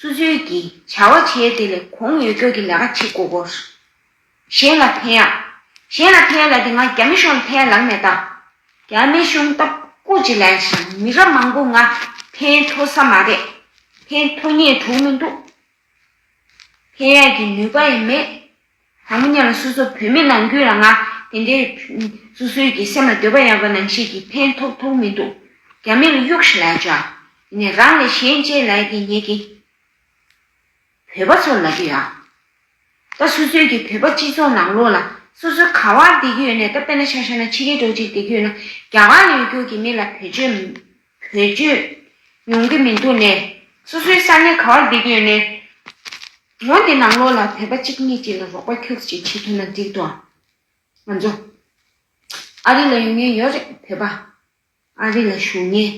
སུ་ཚོད་ཀྱིས་བྱ་བ་བྱས་དེ་ལས་གོང་ཡོད་ཚད་ཀྱི་ལས་ཀ་བྱེད་དགོས་སྐོར། གཞན་ལ་ཕན། གཞན་ལ་ཕན་ལ་དེ་སྔ་རྒྱ་མི་གཞུང་ལ་ཕན་ལགས་མེད་དམ། རྒྱ་མི་གཞུང་ལྟ་སྐུ་ཅི་ལན་ཞིང་མི་རབས་མང་པོ་ལྔ་ཕན་ཐོ་ས་མ་རེད། ཕན་ཐོ་ངེས་དྲུག་མི་འདུག། ཕན་ཡག་གི་ནུས་པ་ཡང་མེད། ད་མི་ཉག་ལ་སོ་སོ་བོད་མི་ནང་ཁུལ་ལ་ང་དེ་འདྲའི། སོ་སོའི་གི་སེམས་ལ་འདོད་པ་ཡག་པ་ནང་བཤད་ཀྱི་ཕན་ཐོག་ཐོག་མི་འདུག་རྒྱ་མི་ལ་གཡུག་ཤི་ལའི་ཇག། དེ་ནས་རང་ལས་གཞན་གཅེས་ལའི་དེ་ཉེས་ཀྱི། བོད་པ་ཚོར་ལབ་ཀྱི་ཡ། ད་སོ་སོའི་གི་བོད་པ་སྤྱི་ཚོགས་ནང་ལོག་ལ་སོ་སོའི་ག་བར་བསྡད་ཀྱི་ཡོད་ནས་ད་དཔེ་ན་ཤ་ཤ་ན་ཕྱི་རྒྱལ་འགྲོ་ཅིག་བསྡད་ཀྱི་ཡོད་ན་རྒྱ་གར་ལ་ཡོད་རྒྱུག་གི་མི་ལ་བོད་ཆོས། བོད་བརྒྱུད། ཡོང་གི་མི་འདུག་ནས། སོ་སོའི་ས་གནས་ག་བར་བསྡད་ཀྱི་ཡོད་ནས། ལོ་འདི་ནང་ལོགས་ལ་བོད་པ་གཅིག་གཉིས་ཀྱིས་ལ་རོགས་པ་ཁྱོད་ཀྱིས་བྱེད་ཐུབ་ན་འགྲིག་འདུག་ཨང། ང་ཚོ། ཨ་རི་ལ་ཡོང་ཉེན་ཡོད་རེད་བོད་པ། ཨ་རི་ལ་བཞུགས་ཉེན།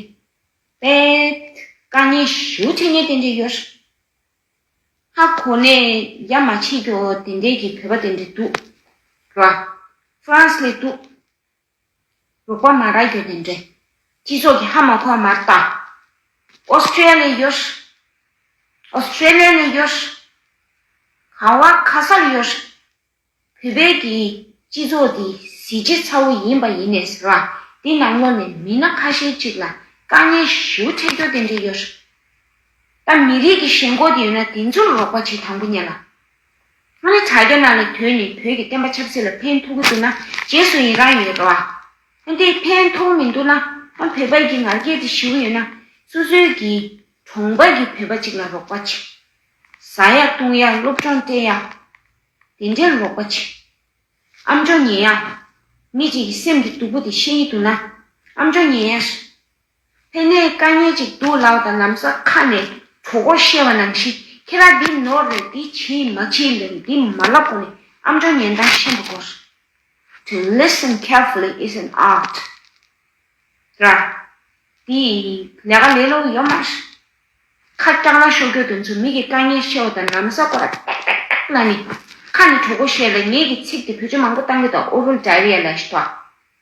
པའི། དཀའ་ཉེན་ཞུ་ཐེ་ཉེན་དེ་འདྲས་ཡོད་རེད། ཧ་གོ་ནས་ཡ་མ་བྱེད་རྒྱོ་དེ་འདྲས་ཀྱི་བོད་པ་དེ་འདྲས་འདུག། ར། ཧྥ་རན་སི་ལས་འདུག། རོགས་པ་མ་རག་ཡོད་ནས་འདྲེ། སྤྱི་ཚོགས་ཀྱི་ཧ་མ་གོ་མར་བལྟ། Australian Australia ནས་ཡོད། ག་བ་ཁ་སར་ཡོད། བུད་བེད་ཀྱི་སྤྱི་ཚོགས་འདི་གཟི་བརྗིད་ཚ་བོ་ཡིན་པ་ཡིན་ནས་ཟེར་བ་འདི་ནང་ལོག་ནས་མི་སྣ་ཁ་ཤས་གཅིག་ལ་དཀའ་ངལ་ཞིའུ་འཕྲད་རྒྱུ་དེ་འདྲས་ཡོད། ད་མི་རིགས་ཀྱི་ཞེན་ཁོག་འདི་ཡོད་ན་དེ་ཚོར་རོགས་པ་བྱེད་དང་པོ་ཉན་ལ། ཁོ་ནི་དྲ་རྒྱ་ནང་ནས་དོན་ནི་བོད་ཀྱི་བསྟན་པ་ཆབ་སྲིད་ལ་ཕན་ཐོག་གི་འདུག་ན་རྗེས་སུ་ཡི་རང་ཡོད་རོགས་ཨ། དེ་ཕན་ཐོག་མི་འདུག་ན་ཨ་བོད་པ་ཡི་ང་རྒྱལ་དེ་ཞི་བོ་ཡོད་ན་སོ་སོའི་གི་གྲོང་པ་གི་བོད་པ་ཅིག་ལ་རོགས་པ་བྱེད། ཟ་ཡག་བཏུང་ཡག་སློབ་སྦྱོང་སྤྲད་ཡག་དེ་འདྲའི་རོགས་པ་བྱེད། ཨམ་ཅོ་ཉེ་ཡག། མི་གཅིག་གི་སེམས་ཀྱི་སྡུག་པོ་དེ་ཤེས་ཡི་འདུག་ན་ཨམ་ཅོ་ཉེ་ཡག། དེ་ནས་བཀའ་ཉན་ཅིག་འདུག་ལགས་དང་ལམ་ས་ཁ་ནས་གྲོ་གོར་བཤད་བ་ནང་བཞིན་ཁྱེད་རང་འདི་ནོར་རེད་འདི་བྱེད་མ་བྱེད་ལས་འདི་མ་ལབ་གོ་ནས་ཨམ་ཀྲོ་ཉན་དང་ཤན་པོ་གོ་སོང། To listen carefully is an art། ར། འདི་ལས་ཀ་ལས་ལོག་ཡོད་མ་རེད། ཁ་སྐྱག་ལ་ཤོ་ཁྱོ་དོན་ཚོ་མི་གི་བཀའ་ཉན་ཤེས་བ་དང་ལམ་ས་གོ་ར་ཏག་ཏག་ཏག་ཏག་ལ་ནི་ཁ་ནས་གྲོ་གོ་བཤད་ལ་ངེད་ཀྱི་ཚིག་དེ་བོད་ཆོས་མང་པོ་བཏང་གི་དང་ཨོ་རོལ diarrhea ལ་ཞི་ཐོག་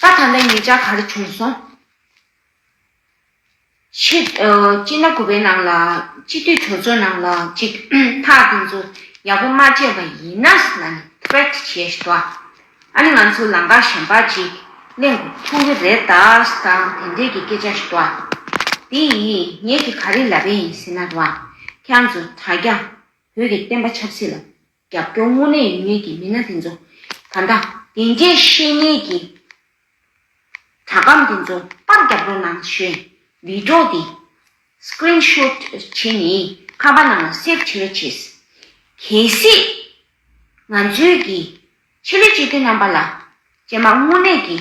ས་ཐ་ན་ངེད་ཅག་ག་རེ་བྱུང་སོང། ཕྱིར། སྤྱིར་ན་ཁོ་པའི་ནང་ལ། སྤྱི་འཐུས་གྲོས་ཚོགས་ནང་ལ་ཅིག། ཐག་དེ་ཚོ་ཡག་པོ་མ་བཅད་པ་ཡིན་ན། ལ་ནི threat བྱེད་ཤི་ཏོ། ཨ་ནི་ང་ཚོ་ལང་ཀ་གཞན་པ་ཅིག་གླེང་དགོས་ཐུག་གི་རེད་ད། དང་དེ་འདྲས་ཀྱི་སྐད་ཆ་ཤི་ཏོ། དེ་ཡིས་ངེད་ཀྱི་ག་རེ་ལབ་པའི་ཡིན་ཟེར་ན། ཁྱང་ཚོ་དྲ་རྒྱ། བོད་ཀྱི་བསྟན་པ་ཆབ་སྲིད་ལ། རྒྱབ་སྐྱོར་དངོས་གནས་ཡོད་མེད་ཀྱི་མི་སྣ་དེ་ཚོ་ད་ལྟ་དེ་འདྲའི་བཤེས་གཉེན་གྱི་དྲ་སྒམ་དེ་ཚོ་པར་རྒྱབ་རོགས་གནང་ཞེས་བིད་ཀྲོ་དེ Screen Shot བྱེད་ནས་ཁ་པར་ནང་ལ Save བྱེད་རོགས་བྱེད། གལ་སྲིད་ང་ཚོའི་གི་ཆེད་ལས་སྤྱི་འཐུས་རྣམ་པ་ལ་ཇེ་མང་དངོས་གནས་ཀྱི་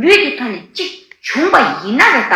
ལུས་ཀྱི་ཐོག་ནས་གཅིག་བྱུང་པ་ཡིན་ན་རེད་ད།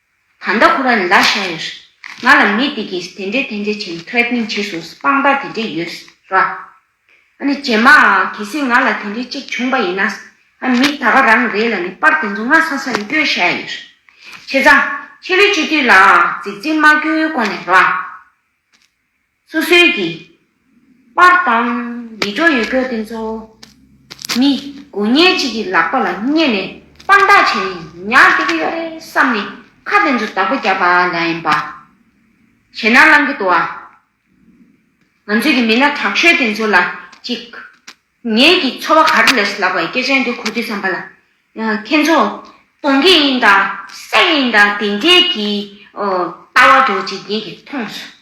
ད་ལྟ་ཁོ་ར་ལ་ཤ་ཡོད་ཤི། ང་ལ་མི་དེ་གིས་དེ་འདྲས་དེ་འདྲས་བྱས threatening བྱས་སོང་ཟི་དཔང་རྟགས་དེ་འདྲས་ཡོད་ར། ཨ་ནི་རྗེས་མ་གལ་སྲིད་ང་ལ་དེ་འདྲས་གཅིག་བྱུང་པ་ཡིན་ན། ཨ་མི་ད་ག་རང་རེད་ལ་ནི་པར་དེ་ཚོ་ང་ས་ས་ལ་སྐྱོལ་ཤ་ཡོད་ཤི། ཁྱེད་ཚང། ཁྱེད་རའི་སྤྱི་འཐུས་ལ་རྫིག་རྫིག་མ་སྐྱོལ་གོ་ནས་ར། སོ་སོའི་གི། པར་དང། ཡིད་འཕྲོག་ཡོད་སྐྱོ་དེ་ཚོ། མི། དགུ་བརྙན་གཅིག་གི་ལག་པ་ལ་བསྙེས་ནས་དཔང་རྟགས་བྱས་ནས་ཉར་བསྡད་ཀྱི་ཡོད་རེད་བསམ་ནས་ཁ་དེ་ཚོ་བདག་པོ་རྒྱག་པ་ལ་ཡིན་པ། བྱས་ན་བླང་གི་འདུག་ཨ། ང་ཚོས་གི་མི་སྣ་དྲག་ཤོས་དེ་ཚོ་ལ་ཅིག། ངས་གི་འཚོ་བ་གར་ལས་སུ་ལགས་པ་ཡི་སྐད་ཆ་འདི་གོ་དུས་བསམ་པ་ལ། ཁྱེད་ཚོ། སྟོང་གི་ཡིན་དང། སད་གི་ཡིན་དང་དེ་འདྲའི་གི། ལྟ་བ་འགྲོ་བ་ཅིག་ངས་གི་མཐོང་སོང།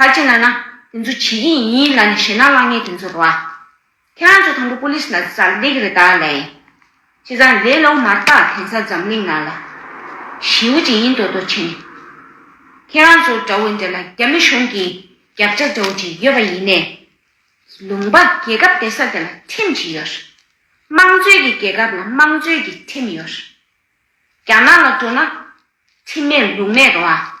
ཁ་ཅིག་ན་ན། དེ་ཚོ་བྱེད་ཀྱི་ཡིན་ལ་ནི་བྱེད་ན་བླ་ངན་དེ་ཚོ་རོ། ཁྱེད་རང་ཚོ་དང་པོ Police ལ་ཟ་ལེགས་རེད་དཱ་ལེ། བྱས་ཙང་ལེ་ལོ་མ་བཏགས་དེང་སང་འཛམ་གླིང་ནང་ལ། ཞིའུ་ཅི་ཡིན་དོ་དོ་བྱེད་ནི། ཁྱེད་རང་ཚོ་འདྲ་བོ་འདྲ་ལ་རྒྱ་མི་གཞུང་གི་རྒྱབ་ལྕག་འདྲ་བོ་ཅིག་ཡོད་པ་ཡིན་ནས། ལུང་པ་རྒྱལ་ཁབ་དེ་ས་དེ་ལ་ཁྲིམས་ཅིག་ཡོད། དམངས་གཙོའི་གི་རྒྱལ་ཁབ་ལ་དམངས་གཙོའི་གི་ཁྲིམས་ཡོད། རྒྱ་ནག་ལ་འགྲོ་ན། ཁྲིམས་མེད་ལུགས་མེད་རོ།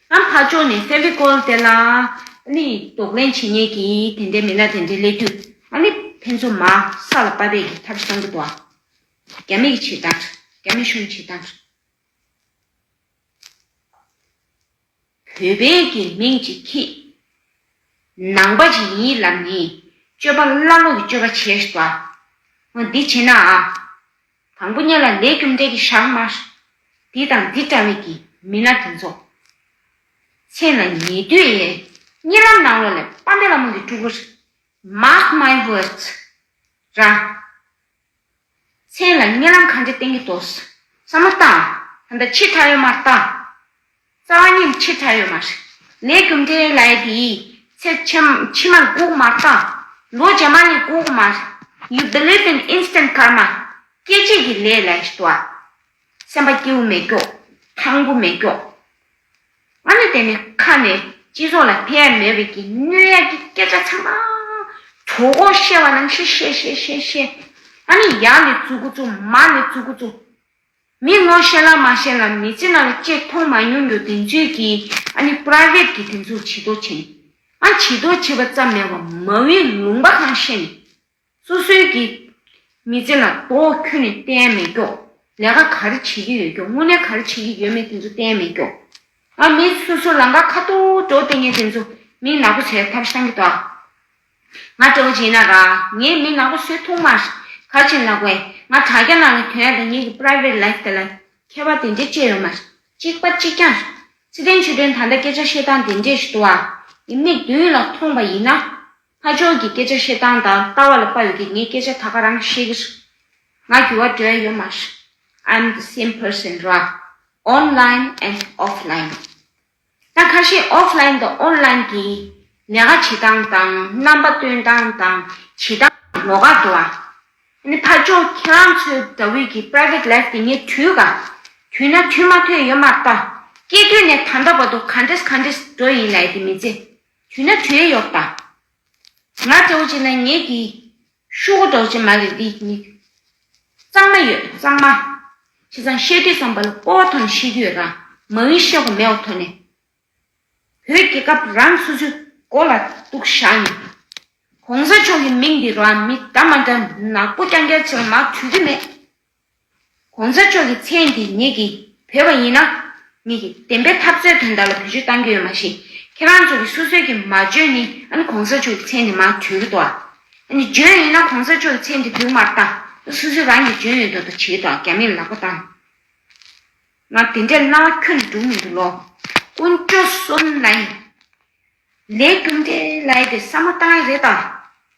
ཨ་ཕ་ཅོ་ནི་ཧྥེ་བྷི་ཀོལ་དེ་ལ་ཨ་ལི་དོགས་ལན་བྱེད་ཉེས་ཀྱིས་དེ་འདྲའི་མི་ལ་དེ་འདྲའི་གླེད་དུས་ཨ་ལི་ཕན་ཚུན་མ་ས་ལ་དཔའ་བས་ཀྱི་ཐབས་བཟང་གི་དོ་ཨ་རྒྱ་མི་གི་བྱེད་སྟངས་རྒྱ་མི་གཞུང་གི་བྱེད་སྟངས། བོད་པའི་གི་མིང་ཅིག་ཁྱེད་ནང་པ་ཅིག་ཡིན་ལབ་ནི་སྤྱོད་པ་བླ་ལོག་གི་སྤྱོད་པ་བྱེད་ཨ་འོ་འདི་བྱེད་ན་ཨ་དང་པོ་གཉེན་ལ་ལས་རྒྱུ་འབྲས་ཀྱི་ཞག་མ། འདི་དང་འདི་འདྲ་བའི་གི་མི་སྣ་དེ་ཚོ། མཚན་ལ་ཉེ་དུས་ཡས་གཉིས་ལམ་ནང་ལོག་ལས་པཱ་མེ་ལ་མོ་གི་སྤྲུལ་སྐུར། Mark my words། རང། མཚན་ལ་གཉེན་ལམ་གང་འདྲའི་སྟེང་གི་དོ་ས་མ་བཏང། ད་ཕྱི་ཐ་ཡོད་མར་བཏང། རྩ་བ་ཉིད་ཆེས་ཕྲ་ཡོད་མ་རེད། ནད་གུང་འབྲས་ལེ་དེའི་ཚེ་ཕྱི་མར་གོག་མ་བཏང། ལོ་རྗེས་མ་ནས་གོག་མ། You believe in instant karma། སྐྱེ་མཆེད་ཀྱི་ལས་ལ་ཞི་དུལ། སེམས་པ་སྐྱེ་བོ་མེད་སྐྱོགས། ཐང་པོ་མེད་སྐྱོགས། ང་ནི་དེ་ནི་ཁ་ནས་སྤྱི་ཚོགས་ལ་ཕན་ཡ་མེད་པའི་ཀྱི་གནོད་ཡ་ཀྱི་སྐད་ཆ་ཚང་མ། གྲོགས་འོག་བཤད་བ་ནང་བཤད་བཤད་བཤད་བཤད་བཤད། ང་ནི་ཡག་ལས་བཙུགས་གོ་ཚུགས་མ་ལས་བཙུགས་གོ་ཚུགས། མི་ངོ་ཤེས་ལ་མ་ཤེས་ལ་མི་ཚེ་ནང་ལ་ཅེས་མཐོང་མ་མྱོང་རྒྱུ་བདེན་རྫུན་གྱི་ཨ་ནི Private གི་དེ་ཚོ་བྱི་དོར་བྱེད། ཨ་བྱི་དོར་བྱེད་པ་ཙམ་མེད་པར་མ་བིའི་ལུང་པ་གང་ཤེས་ནས། སོ་སོའི་གི། མི་ཚེ་ལ་ལྡོ་ཁྱོད་ནས་བསྟན་མེད་ཀྱོ། ལས་ཀ་ག་རེ་བྱེད་ཀྱི་ཡོད་ཀྱོ་དངོས་གནས་ག་རེ་བྱེད་ཀྱི་ཡོད་མེད་དེ་ཚོ་བསྟན་མེད་ཀྱོ། ཨ་མི་ཚེ་སོ་སོ་ལང་ཀ་ཁ་ཐུག་འགྲོ་བསྟན་ངན་དེ་ཚོ་མིང་ནག་པོ་བྱས་ཐབས་བཤང་གི་དོག། ང་སྤྲེའུ་སྦྱིན་ན་དགའ། ངས་མི་ནག་པོ་བསོད་ཐུང་མ། གར་ཆེན་ནག་པོས་ང་དྲ་རྒྱ་ནང་གི་དོན་དང་ངེད་ཀྱི Private Life དེ་ལ་མཁས་པ་དེ་འདྲས་སྤྱད་ཡོད་མ། གཅིག་པ་གཅིག་རྐྱང། ཚེ་བརྟན་ཆོས་སྒྲོན་ད་ལྟ་སྐད་ཆ་བཤད་སྟངས་དེ་འདྲས་ཞིག་འདུག་ཨ། ཡིན་མིག་མདུན་ལ་མཐོང་པ་ཡིན་ན། ཕ་ཆོས་ཀྱི་སྐད་ཆ་བཤད་སྟངས་དང་ལྟ་བ་ལ་དཔའ་ཡོད་ཀི་ངས་སྐད་ཆ་ད་ག་རང་བཤད་ཀྱི་རེད། ང་རྒྱུ་བ་འདྲ་ཡོད་མ། I'm the same person ར། Online and Offline། ད་ཁ་ཤས Off Line དང On Line གྱི་ལས་ཀ་བྱེད་སྟངས་དང་རྣམ་པ་སྟོན་སྟངས་དང་བྱེད་སྟངས་ལོག་ཀ་འགྲོ་བ། ནི་ཕར་ཕྱོགས་ཁྱེད་རང་ཚོའི་དགྲ་བོའི་གྱི Private Life དེ་ངས་དུས་ག་དུས་ན་དུས་མ་ཐོན་ཡོད་མ་ཏ། སྐྱེས་དུས་ནས་ད་ལྟ་བར་དུ་ག་འདྲེས་ག་འདྲེས་འགྲོ་ཡིན་ལས་དེ་མི་ཚེ་དུས་ན་དུས་ཡོད་པ། ང་ལྟ་བུ་ཅིག་ན་ངས་གྱི་ཤུག་གུ་རྡོག་ཅན་མ་ལས་འདི་ཡི། གཙང་མ་ཡོད་གཙང་མ། ཁྱེད་ཚང་བཤད་དུས་བསམ་པ་ལ་སྤོ་བ་ཐོ་ནས་བཤད་རྒྱུ་ཡོད་རང་མ་ཝིན་བཤད་གོ་མེད་བ་ཐོ་ནས། བོད་རྒྱལ་ཁབ་རང་སོ་ཆུ་མགོ་ལ་གཏུག་བཞག་ནས། གོང་ས་མཆོག་གི་མིང་འདི་རང་མི་དག་མ་འདྲ་ནག་པོ་རྐྱང་རྐྱང་བྱེད་པ་མ་འཁྲུལ་གྱི་མེད། གོང་ས་མཆོག་གི་མཚན་དེ་ཉིད་ཀྱིས་བོས་པ་ཡིན་ན། ཉིད་ཀྱིས་བདེན་པའི་འཐབ་རྩོད་དོན་དག་ལ་བེད་སྤྱོད་བཏང་རྒྱུ་ཡོད་མ་ཤེས། ཁྱེད་རང་ཚོ་གིས་སོ་སོའི་གིས་མ་བརྗོད་ནི་ཨ་ནི་གོང་ས་མཆོག་གི་མཚན་དེ་མ་བརྗོད་ཀྱི་དོ། ཨ་ནི་བརྗོད་ཡིན་ན་གོང་ས་མཆོག་གི་མཚན་དེ་དུས་མར་བཏང་ཨ་སོ་སོའི་རང་གིས་བརྗོད་ཡོད་དོ་དང་བྱས་དོ་རྒྱ་མིར་ལག་པ་བཏང་ན་དེ་འདྲའི་སྣང་བ་ཁྱོད་ནས་འགྲུབ་མི་འདུག་ལོ། ཀུན་སྤྱོད་སོ་ནའི་ལས་རྒྱུ་འབྲས་ལ་ཡི་དེ་བསམ་བློ་བཏང་ཡ་རེད་ད།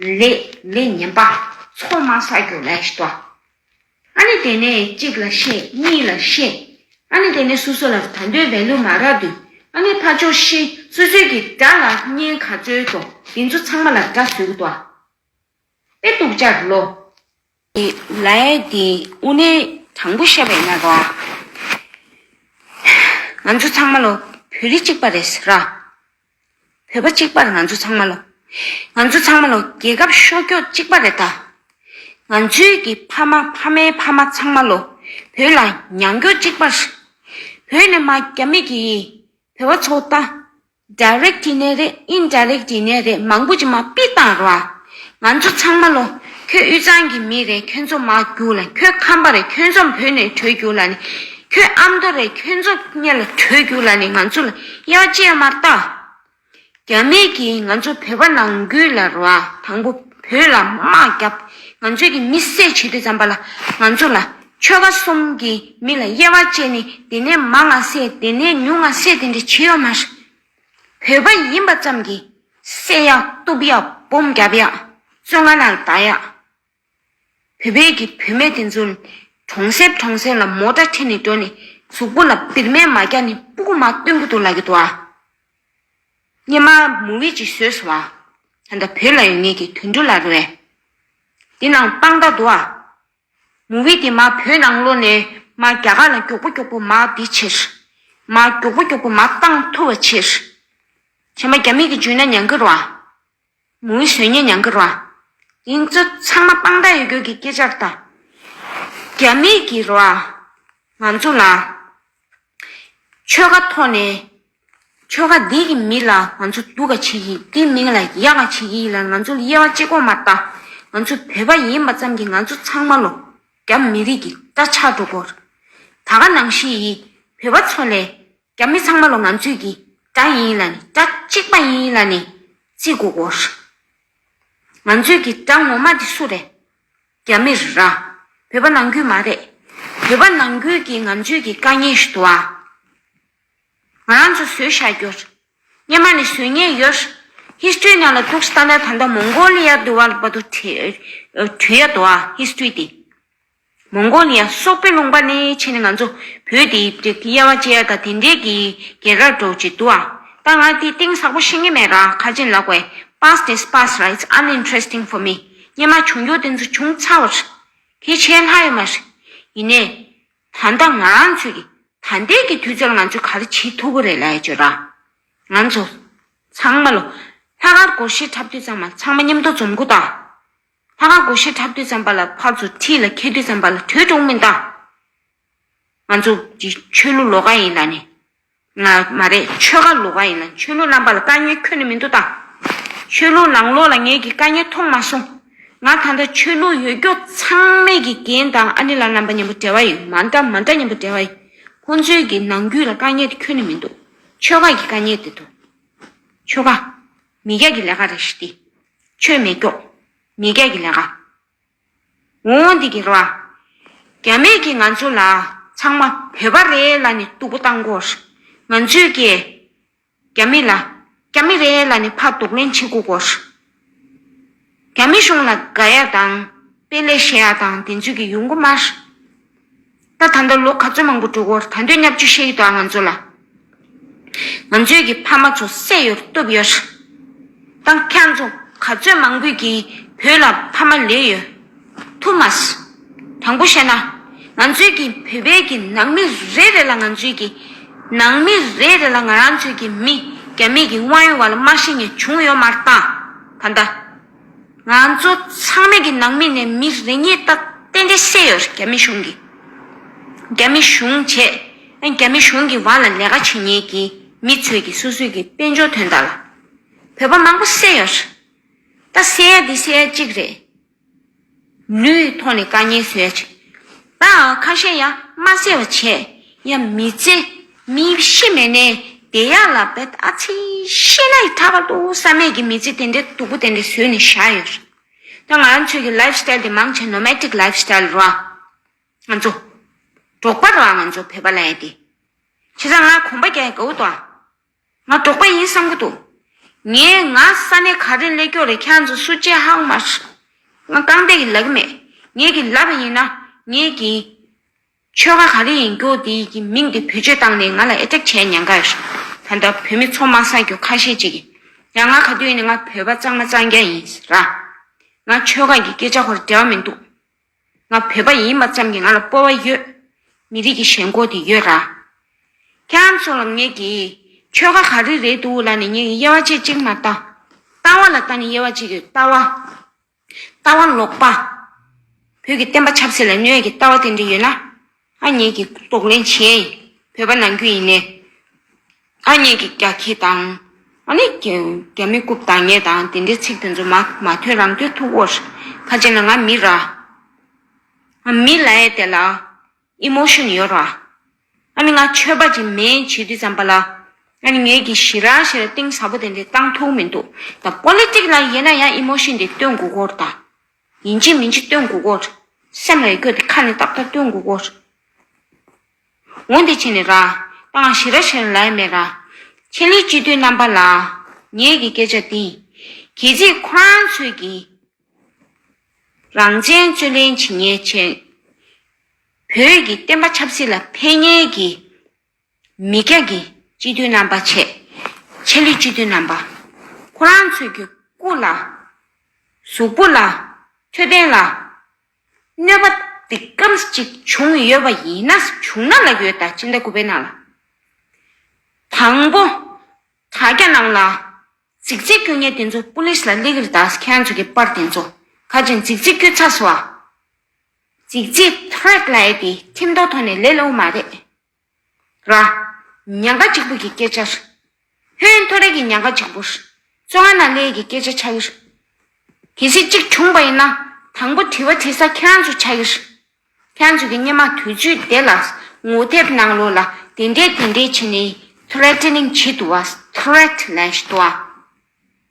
ལས་ལས་ངན་པ་ཚོགས་མང་བསགས་རྒྱུ་ལས་ཤི་ཏོ། ཨ་ནི་དེ་ནས་གཅིག་ལ་བཤད་གཉིས་ལ་བཤད། ཨ་ནི་དེ་ནས་སོ་སོ་ལ་ད་འདོད་བས་ལུས་མ་རག་དུས་ཨ་ནི་ཕ་ཆོག་ཤི་སོད་སོད་ཀྱི་དགྲ་ལ་བསྙེན་ག་རྩོད་དོ་དེ་ཚོ་ཚང་མ་ལ་དགྲ་ཟུག་ཏོ། དཔེ་དུག་ཅར་ལོ། ཀྱི་ལའི་དེ་དབུ་ནས་དྲང་པོ་བཤད་པའི་གནད་དོན། ང་ཚོ་ཚང་མ་ལོ་བོད་རིགས་གཅིག་པ་རེད་ཟེར་ར། བོད་པ་གཅིག་པར་ང་ཚོ་ཚང་མ་ལོ། ང་ཚོ་ཚང་མ་ལོ་རྒྱལ་ཁབ་ཤོ་ཀྱོག་གཅིག་པ་རེད་ད། ང་ཚོའི་གི་ཕ་མ་ཕ་མའི་ཕ་མ་ཚང་མ་ལོ་བོད་ལ་མྱང་ཀྱོག་གཅིག་པ། བོད་ནས་མ་རྒྱ་མི་གི་ཡི་བོད་བ་ཚོ་ད། Direct ནས་རེད Indirect ནས་རེད་མང་པོ་ཅིག་མ་པི་བཏང་ར། ང་ཚོ་ཚང་མ་ལོ། ཁྱོད་དབུས་གཙང་གི་མི་རེད་ཁྱོད་ཚོ་མ་རྒྱུག་ལ་ཁྱོད་ཁམས་པ་རེད་ཁྱོད་ཚོམ་བུ་ནས་བྲོས་རྒྱུག་ལ་ནི། ཁྱོད་ཨ་མདོ་རེད་ཁྱོད་ཚོ་གཉལ་ལ་བྲོས་རྒྱུག་ལ་ནི་ང་ཚོ་ལ་གཡའ་བཅད་མ་བལྟ། རྒྱ་མི་གིས་ང་ཚོ་བོད་པ་ནང་རྒྱུག་ལ་ར་དང་པོ་བོད་ལ་དམག་རྒྱབ་ང་ཚོ་གི་མི་བསད་བྱེད་དུས་ཙམ་པ་ལ་ང་ཚོ་ལ་ཆོལ་ཁ་གསུམ་གྱི་མི་ལ་དབྱེ་བ་བཅད་ནས་དེ་ནས་མང་ང་བསད་དེ་ནས་ཉུང་ང་བསད་དེ་འདྲ་བྱེད་ཡོད་མ་རེད། བོད་པ་ཡིན་པ་ཙམ་གྱིས་བསད་ཡག་གཏུབ་ཡག་སྦོམ་བརྒྱབ་ཡག་བཙོན་ཁང་ནང་བསྡག་ཡག། བོད་པའི་གི་བུད་མེད་དེ་ཚོ་གྲོང་གསེབ་གྲོང་གསེབ་ལ་མོ་ཏྲ་ཁྲིད་ནས་འགྲོ་ནས་གཟུགས་པོ་ལ་པིར་མས་མ་བརྒྱག་ནས་སྤུ་གུ་མ་བཏོན་གི་འདུག་ལབ་གི་འདུག་ཨ། སྙེ་མ་མུ་བི་ཅི་བཟོས་སོང་ཨ། ད་ལྟ་བོད་ལ་ཡོད་ངེས་ཀྱི་དུད་འགྲོ་ལ་རོལ། འདི་ནང་དཔང་རྟགས་འདུག་ཨ། མོ་བི་དེ་མ་བོད་ནང་ལོ་ནས་མ་རྒྱ་གར་ལ་མགྱོགས་པོ་མགྱོགས་པོ་མ་བི་ཕྱིར། མ་མགྱོགས་པོ་མགྱོགས་པོ་མ་བཏང་ཐུབ་བ་ཕྱིར། ཁྱེད་མ་རྒྱ་མིག་གི་འཇུན་ན་ཉང་གི་རོ། མོ་བི་ཟོལ་ཉེ་ཉང་གི་རོ། དེང་ཚོ་ཚང་མ་དཔང་རྟགས་ཡོད་གྱུར་གྱི་སྐད་ཆར་ད། རྒྱ་མིག་གི་རོ། ང་ཚོ་ལ། ཆོལ་ཁ་ཐོག་ནས་ཆོལ་ཁ་འདི་གི་མི་ལ་ང་ཚོ་སྡུག་ག་བྱེད་ཀྱི་དེ་མིང་ལ་གཡག་ག་བྱེད་ཀྱི་ཡིན་ལ་ང་ཚོ་དབྱེ་བ་གཅིག་གོ་མ་ལྟ་ང་ཚོ་བོད་པ་ཡིན་པ་ཙམ་གྱི་ང་ཚོ་ཚང་མ་ལོ་རྒྱ་མི་རིགས་ཀྱི་སྐྲ་ཆག་འགྲོ་དགོ། ད་ག་ནང་ཤི་ཡི་བོད་པ་ཚོ་ལས་རྒྱ་མི་ཚང་མ་ལོ་ང་ཚོས་ཀྱི་སྐྲ་ཡིན་ལ་ནི་སྐྲ་གཅིག་པ་ཡིན་ལ་ནི་བརྩི་གོ་དགོ། ང་ཚོས་ཀྱི་སྐྲ་ངོ་མ་དེ་སུ་རེད་རྒྱ་མི་ར་བོད་པ་ནང་ཁུལ་མ་རེད་བོད་པ་ནང་ཁུལ་གྱི་ང་ཚོས་ཀྱི་དཀའ་ངལ་ཞུ་དོ་ཨ། ང་རང་ཚོ་བཟོས་བཞག་རྒྱུ། སྙེ་མ་ནས་བཟོས་ཉེས་ཡོད། History རྣམས་ལ་ཐུགས་སུ་བལྟ་ན་ད་ལྟ་མོང་གོ་ལི་ཡ་འདུལ་བ་བ་དུ་བྲི་ཡ་དོ་ཨ History དེ། མོང་གོ་ལི་ཡ་སོག་པོའི་ལུང་པ་ནས་ཕྱིན་ནས་ང་ཚོ་བོད་དེ་དབྱེ་བ་ཅེ་ཡ་དང་དེ་འདྲས་ཀྱི་རྒྱལ་ཁར་འགྲོ་ཅེས་འདུག་ཨ། ད་ང་དེ་སྟེང་ཟག་པོ་ཤེས་ངེས་མེད་རང་ཁ་ཅན་ལགས་བས Past is Past ར It's Uninteresting for me སྙེ་མ་བྱུང་རྒྱུ་དེ་ཚོ་བྱུང་ཚར་བ་རེད། དེ་བྱས་ལྷག་ཡོད་མ་རེད། ཡིན་ནས། ད་ལྟ་ང་རང་ཚོས་ཀྱི་ད་ལྟའི་གི་དུས་ཚོད་ལ་ང་ཚོས་ག་རེ་བྱེད་ཐུབ་ཀི་རེད་ལ་ཡ་བཅོད་ར། ང་ཚོ། ཚང་མ་ལོ། ལྷ་ཁང་སྒོ་ཕྱིར་འཁྲབ་དུས་ཚང་མ་ཚང་མ་མཉམ་དུ་འཛོམས་གི་དང། ལྷ་ཁང་སྒོ་ཕྱིར་འཁྲབ་དུས་ཚང་པ་ལ་ཕར་ཚུར་ཁྲིད་ལ་འཁེལ་དུས་ཚང་པ་ལ་གྲོས་བསྒྲུངས་མི་འདང། ང་ཚོ་གི་ཆོས་ལུགས་ལོ་ག་ཡིན་ལ་ནི་མ་རེད་ཆོལ་ཁ་ལོག་པ་ཡིན་ན་ཆོས་ལུགས་རྣམ་པ་ལ་དཀའ་ཉེ་ཁྱོན་ནས་མི་འདུག་ད། ཆོས་ལུགས་ནང་ལོག་ལ་ངས་ཀྱི་དཀའ་ཉེ་མཐོང་མ་སོང། ང་ད་ལྟ་ཆོས་ལུགས་ཡོད་རྒྱུ་ཚང་མས་ཀྱི་རྒན་དང་ཨ་ནེ་ལ་རྣམ་པ་ཉམས་པོ་བྲལ་བ་ཡིན་མ་འདྲ་མ་འདྲ་ཉམས་པོ་བྲལ་བ་ཡིན། ཁོང་ཚོའི་ཀྱི་ནང་རྒྱུད་ལ་དཀའ་ཉེ་དེ་ཁྱོན་ནས་མི་འདུག་ཆོལ་ཁ་ཀྱི་དཀའ་ཉེ་དེ་འདུག། ཆོལ་ཁ། མི་རྒྱ་ཀྱི་ལས་ཀ་རེད་ཤི་སྟེ། ཆོས་མེད་སྐྱོགས། མི་རྒྱ་ཀྱི་ལས་ཀ། འོང་འོང་འདི་གེགས་ལ། རྒྱ་མེད་ཀྱིས་ང་ཚོ་ལ་ཚང་མ་བོད་པ་རེད་ལ་ནི་སྟུག་པོ་བཏང་དགོས། ང་ཚོས་ཀྱི། རྒྱ་མི་ལ། རྒྱ་མི་རེད་ལ་ནི་ཕ་དུག་ལེན་བྱེད་དགོས་དགོས། རྒྱ་མི་གཞུང་ལ་དགའ་ཡ་དང། དཔེ་ལེགས་བཤད་ཡ་དང་དེ་ཚོས་ཀྱི་ཡོང་གི་མ། ད་ད་ལྟ་ལོ་ག་ཚོད་མང་པོ་འགྲོ་གོ་ད་འདོད་ཉབ་ཆུ་ཤེལ་གྱི་དོ་ང་ཚོ་ལ། ང་ཚོས་གི་ཕ་མ་ཚོ་སད་ཡོར་བཏུབ་ཡོར། ད་ཁྱང་ཚོ་ག་ཚོད་མང་པོས་གི་བོད་ལ་ཕ་མ་ལས་ཡོར་ཐུབ་མ་སོ། དང་པོ་བཤད་ན་ང་ཚོས་གི་བོད་པའི་གི་ནང་མི་རེ་རེ་ལ་ང་ཚོས་གི་ནང་མི་རེ་རེ་ལ་ང་རང་ཚོས་གི་མི་རྒྱ་མི་གི་དབང་ཡོ་བ་ལ་མ་ཤེས་ཉེས་བྱུང་ཡོར་མར་ད་ད། ང་ཚོ་ཚང་མས་ཀྱི་ནང་མི་ནས་མི་རེ་གཉིས་ཏག་ཏན་ཏན་བསད་ཡོད་རྒྱ་མི་གཞུང་གིས། རྒྱ་མི་གཞུང་བྱས་ཨ་རྒྱ་མི་གཞུང་གི་བར་ལ་ལས་ཀ་བྱེད་ཉེས་ཀྱི་མི་ཚོས་ཀྱི་སོ་སོས་ཀྱི་དཔལ་འབྱོར་དོན་དག་ལ། བོད་པ་མང་པོ་བསད་ཡོད། ད་བསད་ཡ་འདི་བསད་ཡ་གཅིག་རེད། ལུས་ཐོག་ནས་བཀའ་ཉན་ཟོས། བདག་ཨང་ཁ་ཤས་ཡང་མ་གསལ་བ་བྱས། ཡང་མི་བརྩེ། མི་ཤེས་མེད་ནས་དེ་ཡག་ལ་བད་ཨ་ཚི་ཤེས་ན་ཡི་ཐག་པར་འདུག་བསམ་མེད་ཀྱི་མི་ཚེ་དེ་འདྲའི་སྡུག་པོ་དེ་འདྲ་བཟོས་ནས་བཞག་ཡོད་སོང། ད་ང་ཚོས་ཀྱི life style དེ་མང་ཆེ nomadic life style རོ། ང་ཚོ། འབྲོག་པ་རོ་ང་ཚོ་བོད་པ་ལ་ཡང་དེ། བྱས་ཙང་ང་གོམ་པ་རྒྱག་ཡ་གའུ་དོ་ཨ། ང་འབྲོག་པ་ཡིན་བསམ་གི་འདུག། ངས་ང་ས་གནས་ག་རེ་སླེ་ཀྱོག་རེད་ཁྱག་ཚོ་སུ་ཅེས་ཧ་གོ་མ་ཤི། ང་རྐང་སྟེགས་ཀྱི་ལག་གི་མེད། ངས་གི་ལབ་པ་ཡིན་ན་ངས་གི། ཆོལ་ཁ་ག་རེ་ཡིན་ཀྱོག་འདི་ཡི་གི་མིང་འདི་བེད་སྤྱོད་བཏང་ནས་ང་ལ་ཨེ་ཏྲེག་བྱས་མྱང་ག་ཡོད་ཤི། ད་ལྟ་བོད་མི་ཚོ་མ་སངས་ཀྱོག་ཁ་ཤས་ཅིག་ཡིན། ཡང་ང་ག་དུས་ནས་ང་བོད་པ་གཙང་མ་གཙང་རྒྱ་ཡིན་ར། ང་ཆོལ་ཁ་གི་སྐད་ཆ་ཧོར་འདྲ་བ་མི་འདུག། ང་བོད་པ་ཡིན་པ་ཙམ་གྱིས་ང་ལ་སྤོ་བ་ཡོད། མི་རིགས་ཀྱི་ཞེན་ཁོག་དེ་ཡོད་ར། ཁྱེད་རང་ཚོ་ལ་ངེད་ཀྱིས། ཆོལ་ཁ་ག་རེ་རེད་འདུག་ལ་ནི་ངེད་ཀྱི་དབྱེ་བ་ཆེ་གཅིག་མ་ལྟ། ལྟ་བ་ལ་ལྟ་ནི་དབྱེ་བ་གཅིག་ཡོད་ལྟ་བ། ལྟ་བ་ལོག་པ། བོད་ཀྱི་བསྟན་པ་ཆབ་སྲིད་ལ་གནོད་ཀྱི་ལྟ་བ་དེ་འདྲ་ཡོད་ན། ཨ་མྱེས་ཀྱིས་གཏོགས་ལེན་བྱེད། བོད་པ་ནང་ཁུལ་ཡིན་ནའི། ཨ་མྱེས་ཀྱིས་རྒྱ་ཁྱི་དང། ཨ་ནི་རྒྱ་མི་རྐུབ་དང་ངེད་དང་དེ་འདྲའི་ཚིག་དེ་ཚོ་མ་མ་ཐོན་རང་ཐོས་ཐུག་བོར། ཁ་ཅན་ལ་ང་མི་ར། ཨ་མི་ལ་ཡའི་དེ་ལ། Emotion ཡོད་ར། ཨ་ནི་ང་ཆོས་པ་ཅིག་མིན་བྱེད་དུས་ཙམ་པ་ལ། ཨ་ནི་ངེད་ཀྱིས་ཞི་ར་ཞེས་ར་ཏིང་ཟབ་པོ་དེ་འདྲའི་བཏང་ཐུག་མི་འདུག་ད Politic ལ་ཡིན་ན་ཡང Emotion དེ་སྟོན་དགོས་སྐོར་དང། ཡིན་གཅིག་མིན་གཅིག་སྟོན་དགོས་སྐོར། སེམས་ལ་ཡི་གེ་འདི་ཁ་ནས་ཏག་ཏག་སྟོན་དགོས་སྐོར། ངོ་འདི་ཕྱེ་ནས་ར། སྤང་བླང་ཞི་ར་ཞི་ར་ལའི་མེ་ར། ཁྱེད་ལས་སྤྱི་དོན་རྣམ་པ་ལ། ངེད་ཀྱི་སྐད་ཆ་འདི། གལ་ཚིག་ཁོ་རང་ཚོད་ཀྱི། རང་བཙན་རྩོད་ལེན་བྱེད་ཉེས་ཆེ། བོད་ཀྱི་བསྟན་པ་ཆབ་སྲིད་ལ་ཕན་ངེས་ཀྱི། མི་སྐྱ་ཀྱི་སྤྱི་མཐུས་རྣམ་པ་ཆེ། ཆེ་ལི་སྤྱི་མཐུས་རྣམ་པ། ཁོ་རང་ཚོས་ཀྱི་སྐུ་ལ། གཟུགས་པོ་ལ། འཕྲོད་བསྟེན་ལ། གནོད་པ་འདི་ཀམས་ཅིག་བྱུང་ཡོད་པ་ཡིན་ན་བྱུང་ན་ལ་ཡོད་ད་ཅི་འདྲ་སྐུ་བེད་ན་ལ། དང་པོ། དྲ་རྒྱ་རྣམས་ལ། ཚིག་རྩིས་སྐྱོ་ཉེ་དེ་ཚོ་པུ་ལིས་ལ་གླེགས་རི་ད་ཁྱེད་ཚོ་ཀྱི་པར་དེ་ཚོ་ཁ་ཅིག་ཚིག་རྩིས་སྐྱོ་ཚ་སོ་ཨ། ཅིག་ཅིག་ཐོད་ལ་ཡེ་དེ་ཁྱིམ་ཐོ་ཐོ་ནས་ལེ་ལོ་མ་རེད་ར། ཉག་ག་ཅིག་པུ་གི་སྐད་ཆར། ཧོན་ཐོ་རེ་གི་ཉག་ག་ཅིག་པུར། སོ་ཨ་ན་ལེ་གི་སྐད་ཆ་ཆ་གིར། གལ་སྲིད་ཅིག་བྱུང་པ་ཡིན་ན་དང་པོ་དྲི་བ་དྲི་ས་ཁྱེད་རང་ཚོ་ཆ་གིར། ཁྱེད་རང་ཚོ་གི་སྙེ་མ་དུས་ཚོད་དེ་ལ་ངོ་དེབ་ནང་ལོ་ལ་དེ་འདྲས་དེ་འདྲས་བྱེད་ནས Threatening བྱེད་དུ་བ Threat ལན་བྱེད་དུ་བ།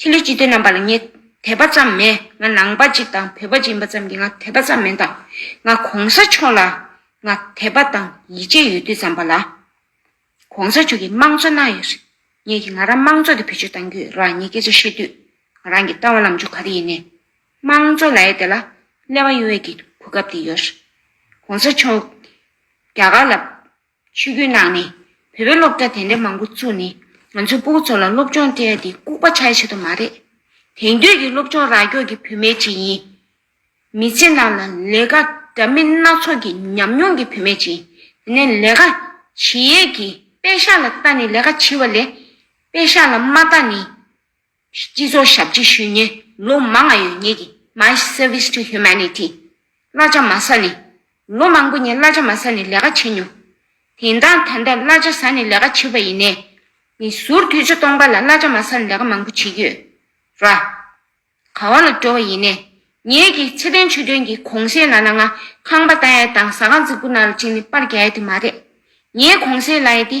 ཕྱི་ལུས་ཅི་སྟེ་རྣམ་པ་ལ་ངས་དད་པ་ཙམ་མེད་ང་ནང་པ་ཅིག་དང་བོད་པ་ཅིག་ཡིན་པ་ཙམ་གྱིས་ང་དད་པ་ཙམ་མེད་དང་ང་གོང་ས་མཆོག་ལ་ང་དད་པ་དང་ཡིད་ཆེས་ཡོད་དུས་ཙམ་པ་ལ། གོང་ས་མཆོག་གིས་དམངས་གཙོ་གནང་ཡོད་རེད་ངེད་ཀྱིས་ང་རང་དམངས་གཙོ་དེ་བེད་སྤྱོད་གཏང་རྒྱུའི་རང་ཉིད་སྐད་ཆ་བཤད་དུས་ང་རང་གིས་བཏང་བ་ལམ་ཕྱོགས་ག་དེ་ཡིན་ནས་དམངས་གཙོ་ལ་ཡེ་དེ་ལ་ཀླད་པ་གཡོ་བས་ཀྱི་གོ་སྐབས་དེ་ཡོད་རེད་གོང་ས་མཆོག་རྒྱ་གར་ལ། ཆོས་སྐུའི་ནང་ནས་བོད་པའི་སློབ་གྲྭ་དེ་འདྲའི་མང་པོ་བཙུགས་ནས་ང་ཚོའི་སྤུ་གུ་ཚོ་ལ་སློབ་སྦྱོང་སྤྲད་དེ་ལྐུགས་པ་ཆགས་བྱེད་དུ་མ་རེད། དེང་དུས་ཀྱི་སློབ་སྦྱོང་ར་འགྱོགས་ཀྱི་བུད་མེད་ཅིག་ཡིན། མི་ཚེ་ནང་ལ་ལས་ཀ་འདྲ་མིན་སྣ་ཚོགས་ཀྱི་ཉམས་མྱོང་གི་བུད་མེད་ཅིག་ཡིན། དེ་ནས་ལས་ཀ་བྱེད་ཡས་ཀྱིས་དཔེ་ཤག་ལ་བལྟ་ནས་ལས་ཀ་བྱེད་པ་ལས་དཔེ་ཤག་ལ་མ་བལྟ་ནས། སྤྱི་ཚོགས་ཞབས་ཕྱི་ཞུས་ཉེས་ལོ་མང་ཡོད་ཉེས་ཀྱིས My Service to Humanity། གླ་ཆ་མ་ཟ་ནི། ལོ་མང་པོ་ཉིན་གླ་ཆ་མ་ཟ་ནི་ལས་ཀ་བྱས་མྱོང། དེང་སྟངས་ད་ལྟ་གླ་ཆ་ཟ་ནི་ལས་ཀ་བྱེད་པ་ཡིན་ནས། མི་ཟུར་དུས་ཆ་སྟོང་པ་ལ་གླ་ཆ་མ་ཟ་ནི་ལས་ཀ་མང་པོ་བྱེད་ཀྱི་ཡོད། ར། ག་བ་ལ་འགྲོ་བ་ཡིན་ནས། ཉེས་ཀྱིས་ཚེ་བརྟན་ཆོས་སྒྲོན་གྱིས་གོང་གསལ་ལ་ལ་ང་ཁང་པ་བལྟ་ཡས་དང་ཟ་ཁང་རྫིག་པོ་ན་ལ་བཅིངས་ནི་པར་རྒྱག་ཡས་དེ་མ་རེད། ངས་གོང་གསལ་ལ་ཡས་དེ་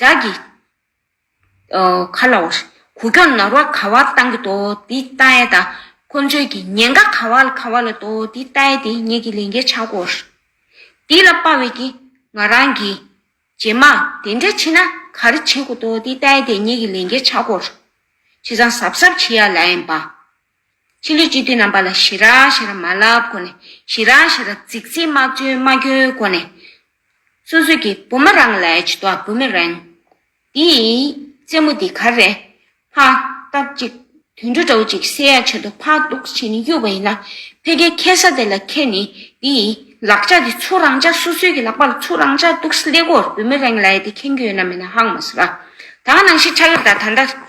བྲག་གི་ཁ་ལ་འོ། གུ་གྱོང་ནོར་བ་ག་བར་བཏང་གི་དོ་དེ་ལྟ་ཨེ་ད། ཁོ་ཚོས་ཀྱི་ཉེན་ཁ་ག་བ་ལ་ག་བ་ལ་དོ་དེ་ལྟ་ཨེ་དེ་ངེད་ཀྱི་ལས་འགན་ཆགས་དགོ། དེ་ལ་དཔའ་བས་ཀྱི་ང་རང་གི། རྗེས་མ་དེ་འདྲ་ཕྱིན་ན་ག་རེ་བྱེད་དགོ་དོ་དེ་ལྟ་ཨེ་དེ་ངེད་ཀྱི་ལས་འགན་ཆགས་དགོ། ཁྱེད་རང་གཟབ་གཟབ་བྱེད་ཡ་ལ་ཨེ་འམ། ཕྱི་ལུས་སྤྱི་ཐུན་རྣམ་པ་ལ་ཞི་ར་ཞི་ར་མ་བསླབ་གོ་ནས་ཞི་ར་ཞི་ར་ཙིག་ཙིག་མ་བཅོས་མ་བསྐྱོད་གོ་ནས། སོ་སོས་ཀྱི་བུ་མ་རང་ལས་ཇི་ལྟོ་བུ་མེ་རེང། འདི་ཡི་རྩེ་མོ་འདི་གར་རེ། ཕག་རྟགས་ཅིག་དུད་འགྲོ་འདྲ་བོ་ཅིག་བསད་ཡ་བྱེད་དོ་ཕག་རྟོགས་བྱེད་ནི་གཡུག་པ་ཡིན་ན་ཕལ་ཁའི་ཁལ་ས་དེ་ལ་ཁལ་ནི་འདི་ཡི་ལག་ལྕགས་འདི་ཚུར་རང་ལྕགས་སོ་སོའི་ཀྱི་ལག་པ་ལ་ཚུར་རང་ལྕགས་གཏུགས་སླེ་གོར་བུ་མེ་རེང་ལས་དེ་ཁེངས་རྒྱུ་ཡོད་ན་མེད་ན་ཧང་མ་སུ་ར། ད་ང་ནང་ཤི་ཁྲ་ཡོད་ད་ད་ལྟ།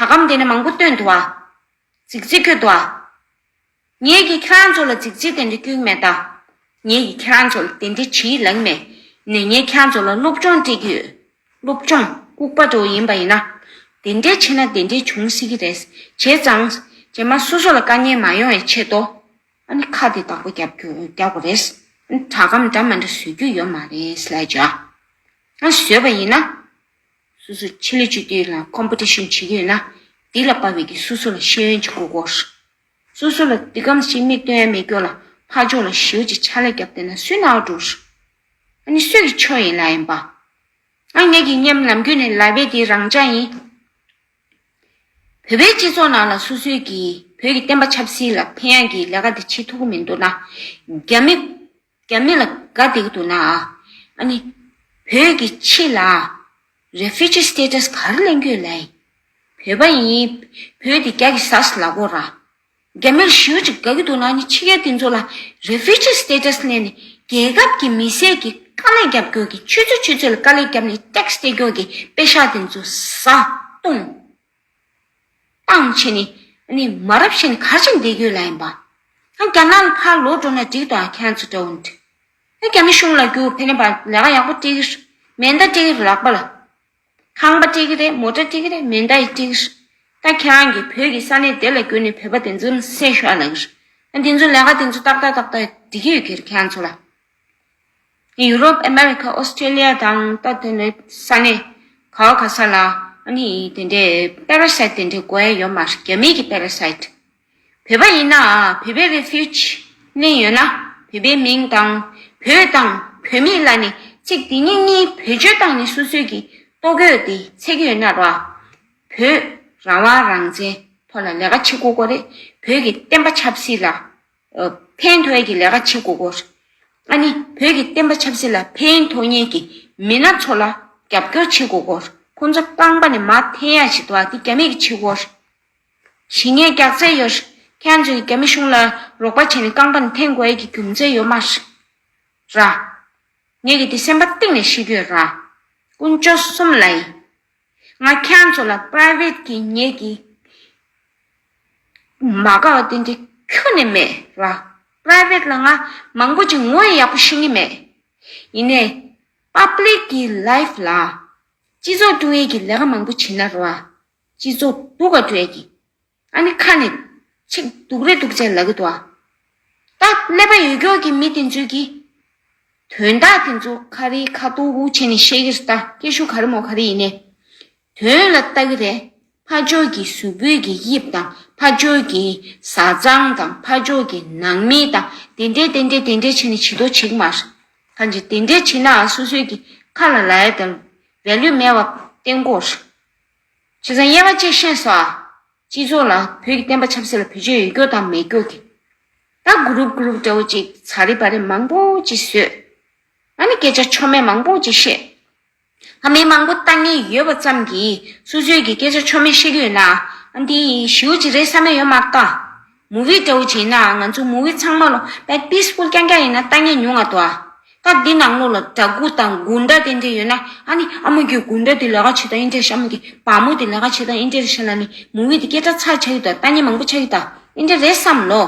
གྲགས་སྐམ་དེ་ནས་མང་པོ་བཏོན་དུ་བ། འཇིགས་བྱེད་ཁྱོད་དུ་བ། ངེད་ཀྱིས་ཁྱེད་རང་ཚོ་ལ་འཇིགས་བྱེད་དེ་འདྲ་སྐྱོན་མེད་ད། ངེད་ཀྱིས་ཁྱེད་རང་ཚོ་ལ་དེ་འདྲའི་བྱིས་གླིང་མེད། ནས་ངས་ཁྱེད་རང་ཚོ་ལ་སློབ་སྦྱོང་སྤྲད་ཀྱི་ཡོད། སློབ་སྦྱོང་ལྐུགས་པ་དྲོ་ཡིན་པ་ཡིན་ན། དེ་འདྲའི་ཆེ་ན་དེ་འདྲའི་བྱུང་སྲིད་ཀྱི་རེད། བྱས་ཙང། རྗེས་མ་སོ་སོ་ལ་དཀའ་ཉེན་མ་ཡོང་བའི་ཆེད་དུ། ཨ་ནི་ཁ་དེ་དག་པོ་རྒྱབ་རྒྱུ་རྒྱག་དགོས་རེད། ཨ་ནི་གྲགས་སྐམ་འདྲ་མ་འདྲ་བཟོས་རྒྱུ་ཡོད་མ་རེད་སླད་ཅིག། ཨ་བཟོས་པ་ཡིན་ན། སོ་སོས་ཆེད་ལས་ཅུས་དེ་ལ Competition བྱེད་ཀྱི་ཡོད་ན། དེ་ལ་དཔའ་བོས་ཀྱིས་སོ་སོ་ལ་ཤེས་ཡོན་གྱི་གོ་སྐོར། སོ་སོ་ལ་དེ་སྒམ་ཞིག་མིག་སྟོན་ཡ་མེད་སྐྱོར་ལ་ཕ་ལྗོངས་ལ་ཞེའུ་ཅིག་ཕྱག་ལས་བརྒྱབ་བསྡད་ན་སུས་རྣ་བ་འགྲོ། ཨ་ནི་སུས་ཀྱི་ཆོས་ཡིན་ལ་ཡིན་པ། ང་ངེད་ཀྱི་སྙེམས་ལམ་རྒྱུད་ནས་ལབ་པའི་དེ་རང་ཅག་ཡིན། བོད་པའི་སྤྱི་ཚོགས་ནང་ལ་སོ་སོས་ཀྱིས་བོད་ཀྱི་བསྟན་པ་ཆབ་སྲིད་ལ་ཕན་ཡག་གི་ལས་ཀ་དེ་བྱེད་ཐུབ་ཀྱི་མི་འདུག་ན། རྒྱ་མི། རྒྱ་མི་ལ་དགའ་སྡིག་འདུག་ན་ཨ་ནི། བོད་ཀྱི་ཕྱི་ལ Refugee Status གར་གླེང་རྒྱུ་ལས། བོད་པ་ཡིན་བོད་དེ་རྒྱ་གི་ཟས་ལ་གོ་ར། རྒྱ་མིར་ཞི་བ་ཅིག་དགའ་གི་འདུག་ན་ཨ་ནི་ཕྱི་རྒྱལ་དེ་ཚོ་ལ Refugee Status གླེང་ནས་རྒྱལ་ཁབ་ཀྱི་མི་སེར་གྱི་དཀའ་ལས་རྒྱབ་རྒྱོག་གི་ཆུ་ཚོད་ཆུ་ཚོད་ལ་དཀའ་ལས་རྒྱབ་ནས Tax སྟེར་རྒྱོག་གི་དཔེ་ཤག་དེ་ཚོ་བཟའ་བཏུང། སྤང་བྱེད་ནི། ནི་མ་རབས་བཞིན་གར་བྱེད་འདས་གྱུར་ལ་ཡིན་པ། རྒྱ་ནག་ལ་ཕར་ལོག་འགྲོ་ན་འགྲིག་ཏོ་ཁྱེད་ཚོ་འདྲ་བོ་འདི། རྒྱ་མི་གཞུང་ལ་རྒྱུག་ཕེ་ནེ་པ་ལས་ཀ་ཡག་པོ་སྤྲད་གི་རེད་མེ་མདའ་སྤྲད་གི་རེད་ལག་པ་ལ། ཁང་པ་སྤྲད་གི་རེད་མོ་ཏྲ་སྤྲད་གི་རེད་མེ་མདའ་ཡིས་སྤྲད་གི་རེད། ད་ཁྱེད་རང་གིས་བོད་ཀྱི་ས་གནས་དེ་ལ་རྒྱུག་ནས་བོད་པ་དེ་ཚོ་ཟས་ཤོར་ལ་ཡིན། འདི་ཚོ་ལས་ཀ་དེ་ཚོ་ཏག་ཏག་ཏག་ཏག་འགྲིག་གི་ཡོད་གི་རེད་ཁྱེད་ཚོ་ལ། ཡུ་རོབ་ཨ་མེ་རི་ཁ་ཨོ་སི་ཀྲེ་ལི་ཡ་དང་ལྟ་དེ་འདྲའི་ས་གནས་ག་ག་ས་ལ་ནི་དེ་འདྲའི་པཱ་ར་སཱིད་དེ་འདྲའི་གོ་ཡ་ཡོད་མ་རེད་རྒྱ་མིའི་གི་པཱ་ར་སཱིད། བོད་པ་ཡིན་ན་བོད་པའི་རེ་ཕིའུ་ཅི་གླེང་ཡོད་ན་བོད་པའི་མིང་དང་བོད་དང་བོད་མི་ལ་ནི་ཚིག་དེ་གཉིས་གཉིས་བེད་སྤྱོད་སྟངས་ནི་སུ་སུའི་གི་ལྟོ་གོས་དེ་ཚེག་ཡོད་ན་ར་བོད་རང་དབང་རང་བཙན་ཐོག་ལ་ལས་ཀ་བྱེད་དགོས་གོ་རེད་བོད་གི་བསྟན་པ་ཆབ་སྲིད་ལ། ཕན་ཐོགས་ཀྱི་ལས་ཀ་བྱེད་དགོས་སྐོར། ཨ་ནི་བོད་ཀྱི་བསྟན་པ་ཆབ་སྲིད་ལ་ཕན་ཐོགས་ངེས་ཀྱི་མི་སྣ་ཚོ་ལ་རྒྱབ་སྐྱོར་བྱེད་དགོས་སྐོར་ཁོང་ཚོ་རྐང་པ་ནས་མར་འཐེན་ཡག་བྱེད་དོ་འདི་རྒྱ་མིས་ཀྱི་བྱེད་སྒོར་ཞི་ངས་རྒྱག་རྩལ་ཡོད། ཁྱེད་ཚོས་རྒྱ་མི་གཞུང་ལ་རོགས་པ་བྱས་ནས་རྐང་པ་ནས་འཐེན་དགོས་ཡས་ཀྱི་རྒྱུ་མཚན་ཡོད་མ་ར། ངས་ཀྱི་འདི་སེམས་པ་གཏིང་ནས་ཤེས་ཀྱི་ཡོད་ར། ཀུན་སྤྱོད་གསུམ་ལ་ཡིན། ང་ཁྱེད་ཚོ་ལ Private གི་ངེད་ཀྱི་མ་དགའ་བ་དེ་འདྲ་ཁྱོན་ནས་མེད་ལ Private ལ་ང་མང་པོ་ཅིག་ངོ་ཡག་པོ་ཤོད་ངེས་མེད། ཡིན་ནས Public གི Life ལ་སྤྱི་ཚོགས་ཀྲུའུ་ཡེ་གི་ལས་ཀ་མང་པོ་བྱེད་ན་རོ། སྤྱི་ཚོགས་སྡུག་ག་ཀྲུའུ་ཡེ་གི་ཨ་ནི་ཁ་ནས། ཆིག་སྡུག་རེ་སྡུག་ཅེས་ལབ་གི་འདུག་ཨ། ད་ཀླད་པ་ཡོད་ཀྱོག་གི་མི་དེ་ཚོས་ཀྱིས། དོན་དག་དེ་ཚོ་ཁ་རི་ཁ་ཏུག་ཏུག་བྱས་ནས་བཤད་ཀྱི་རེད་ད་སྐད་ཤུགས་ག་རེ་མོ་ག་རེ་ཡིན་ནས། དོན་ལ་ལྟ་གི་རེད། ཕ་ཅོག་གི་གཟུགས་པོད་ཀྱི་དབྱིབས་དང་ཕ་ཅོག་གི་བཟའ་ཚང་དང་ཕ་ཅོག་གི་ནང་མི་དང་དེ་འདྲས་དེ་འདྲས་དེ་འདྲས་བྱས་ནས་བྱི་དོ་བྱེད་ཀྱི་མ་རེད། གང་ཅི་དེ་འདྲས་བྱས་ནའང་སོ་སོས་ཀྱི་ཁ་ལ་ལའི་དང་རེ་ལུས་མེད་པ་གཏན་གོ་རེད། ཆེ་ཚང་དབྱེ་བ་བཅས་བཤད་སོང། སྤྱི་ཚོགས་ལ་བོད་ཀྱི་བསྟན་པ་ཆབ་སྲིད་ལ་བེད་སྤྱོད་ཡོད་སྐྱོར་དང་མེད་སྐྱོར་གྱི། ད་གུ་རུབ་གུ་རུབ་འདྲ་བོ་ཅིག་ཚ་རེ་བ་རེ་མང་པོ་ཅིག་བཟོས། ང་ནི་སྐད་ཆ་ཆོ་མེད་མང་པོ་ཅིག་བཤད། ང་མི་མང་པོ་ལྟ་ངེས་ཡོད་པ་ཙམ་གྱིས་སུ་ཚོད་ཀྱིས་སྐད་ཆ་ཆོ་མེད་བཤད་ཀྱི་ཡོད་ན། འདི་ཞེའུ་ཅིག་རེད་བསམ་ན་ཡོད་མ་གཏོགས། མོ་བི་ཏོའུ་བྱས་ན་ང་ཚོ་མོ་བི་ཚང་མ་ལོ་པད་པིས་པོ་རྐྱང་རྐྱང་ཡིན་ན་ལྟ་ཉན་ཉུང་ང་དོ་ཨ། སྐབས་འདི་ནང་ལོ་ལ་དྲ་སྒུག་དང་སྒུག་འདྲ་དེ་འདྲ་ཡོད་ན་ཨ་ནི་ཨ་མོ་ཁྱོད་སྒུག་འདྲ་དེ་ལས་ཀ་བྱེད་དང་ཨིན་འདྲ་ཤ་མོ་དེ་བ་མོ་དེ་ལས་ཀ་བྱེད་དང་ཨིན་འདྲ་རེ་བྱས་ན་ནི་མོ་བི་དེ་སྐད་གྲགས་ཚར་ཆགས་ཡོད་དང་ལྟ་ཉན་མང་པོ་ཆགས་ཡོད་དང་ཨིན་འདྲ་རེད་བསམ་ལོ།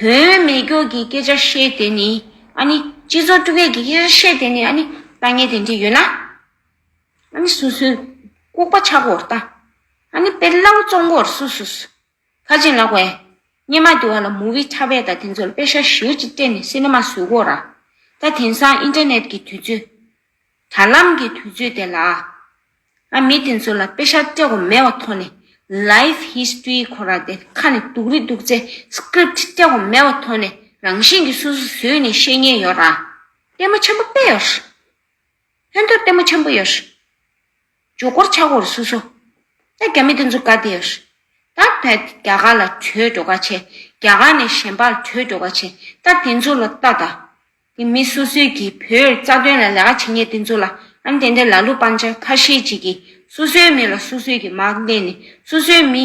དོན་མེད་སྐྱོར་གྱི་སྐད་ཆ་བཤད་དེ་ནི་ཨ་ནི་སྤྱི་ཚོགས་དཀྲུགས་སྐད་ཀྱི་སྐད་ཆ་བཤད་དེ་ནི་ཨ་ནི་ལྟ་ཉན་དེ་འདྲ་ཡོད་ན། ཨཱ་ནི་སུ་སུ། ལྐུགས་པ་ཆག་གོ་ལྟ། ཨཱ་ནི་དཔེར་སླ་བོ་བཙོང་གོ་སུ་སུ་སུ། ཁ་ཅིང་ལག་པས། སྙེ་མ་འདི་བ་ལ་མུ་བི་ཁྲ་བས་ད་དེ་ཚོར་དཔེ་ཤ་བཞིར་ཅིག་སྤྲད་ནས་སི་ནི་མ་བཟོས་གོ་ར། ད་དེང་སང་ཨིན་ཏེར་ནེད་ཀྱི་དུས་ཚོད། དྲ་ལམ་གྱི་དུས་ཚོད་དེ་ལ། ཨ་མི་དེ་ཚོ་ལ་དཔེ་ཤ་སྤྲད་གོ་མེད་བ་ཐོ་ནི Life History གོ་ར་དེ་ཁ་ནི་དུག་རི་དུག་ཚེ Script སྤྲད་གོ་མེད་བ་ཐོ་ནི་རང་བཞིན་གྱི་སུ་སུ་བཟོས་ནས་བཤད་ཉེན་ཡོ་ར། ལྟད་མོ་ཆེན་པོ་དཔེ་ཡོ་ར། ལྷན་ཐོད་ལྟད་མོ་ཆེན་པོ་ཡོད། ཇོ་གོར་ཆག་གོར་སུ་སོ། ད་རྒྱ་མི་དེ་ཚོ་དགའ་དེ་ཡོད། ད་བལ་རྒྱ་གར་ལ་བྲོས་འགྲོ་ག་བྱེད་རྒྱ་གར་ནས་གཞན་པར་བྲོས་འགྲོ་ག་བྱེད་ད་དེ་ཚོ་ལ་ལྟ་ད། དེ་མི་སོ་སོས་ཀྱིས་བོད་རྩ་དོན་ལ་ལས་ཀ་བྱེད་མཁན་དེ་ཚོ་ལ་ཨམ་དེ་འདྲའི་ལ་གླུ་སྤང་བྱ་ཁ་ཤས་ཅིག་གིས་སོ་སོའི་མི་ལ་སོ་སོས་ཀྱིས་མག་བསྟན་ནས་སོ་སོའི་མི་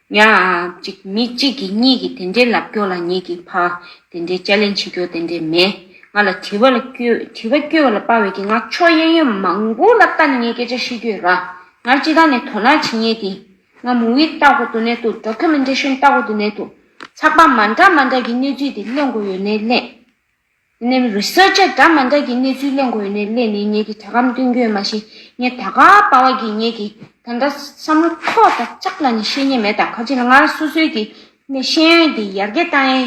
ཡ། ཅིག་མི་གཅིག་གིས་གཉིས་ཀྱི་དེ་འདྲའི་ལབ་སྐྱོ་ལ་ངེད་ཀྱིས་ཕ། དེ་འདྲའི་དཔྱ་ལེན་བྱེད་སྐྱོ་དེ་འདྲའི་མེད། ང་ལ་དྲི་བ་ལ་སྐྱོས་དྲི་བ་སྐྱོ་བ་ལ་དཔའ་བའི་གི་ང་ཕྱོགས་གཡས་གཡོན་མང་པོ་ལ་ལྟ་ནས་ངས་སྐད་ཆ་ཤི་སྐྱོས་ར། ངར་སྤྱི་དང་ནས་དོ་ནག་བྱེད་ངེས་ཏེ། ང་མུ་བི་ལྟ་གོ་དུ་ནས་དུ་འགྲོ་ཁ་མི་འདྲ་ཤོན་ལྟ་གོ་དུ་ནས་དུ། ཚགས་པར་མ་འདྲ་མ་འདྲ་གི་སྣོད་བྲིས་དེ་གླེང་དགོས་ཡོད་ནའི་གླེང། སྣེམས་རུས་གསར་བརྗེ་འདྲ་མ་འདྲ་གི་གནས་ཚུལ་གླེང་དགོས་ནས་གླེང་ནས་ངེད་ཀྱི་དྲ་སྒམ་སྟོན་རྒྱུ་ཡོད་མ་གཞི་ངས་ད་ག་པ་བ་གི་ངེད་ཀྱི་ད་འདྲ་བསམ་བློ་ཐོག་ད་ཅག་ལ་ནི་ཤེས་ཉེན་མེད་ད་ག་ཅི་ལ་ངར་སོ་སོའི་གི་ནས་ཤེས་ཡོན་དེ་ཡར་རྒྱས་བཏང་ཡིན་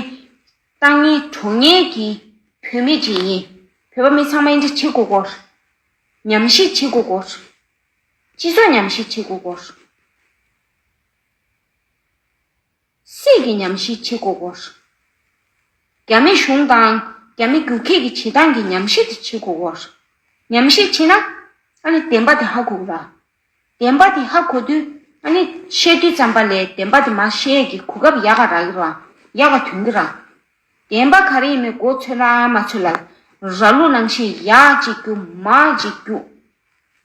བཏང་ངའི་གྲོང་ངེད་ཀྱི་བུད་མེད་ཅིག་ཡིན་བོད་པ་མི་ཚང་མ་ཨེ་འདྲ་བྱེད་དགོས་སྐོར། ཉམས་ཞིབ་བྱེད་དགོས་སྐོར། སྤྱི་ཚོགས་ཉམས་ཞིབ་བྱེད་དགོས་སྐོར། སྲིད་ཀྱི་ཉམས་ཤིག་བྱེད་དགོས་སྐོར། རྒྱ་མི་གཞུང་དང་རྒྱ་མི་རྒྱུག་ཁྱི་གི་བྱེད་སྟངས་ཀྱི་ཉམས་ཤིག་དེ་བྱེད་དགོས་སྐོར། ཉམས་ཤིག་བྱེད་ན། ཨ་ནི་བདེན་པ་དེ་ཧ་གོ་གི་ར། བདེན་པ་དེ་ཧ་གོ་དུས་ཨ་ནི་བཤད་དུས་ཙམ་པ་ལས་བདེན་པ་དེ་མ་བཤད་ཀྱི་གོ་སྐབས་ཡག་ག་རག་གི་ར། ཡག་ག་དོན་གི་ར། བདེན་པ་ག་རེ་ཡིན་མི་གོ་ཚོད་ལ་མ་ཚོད་ལ། ར་ལུག་ནང་བཞིན་ཡག་ཅིག་རྒྱུག་མ་ཅིག་རྒྱུག།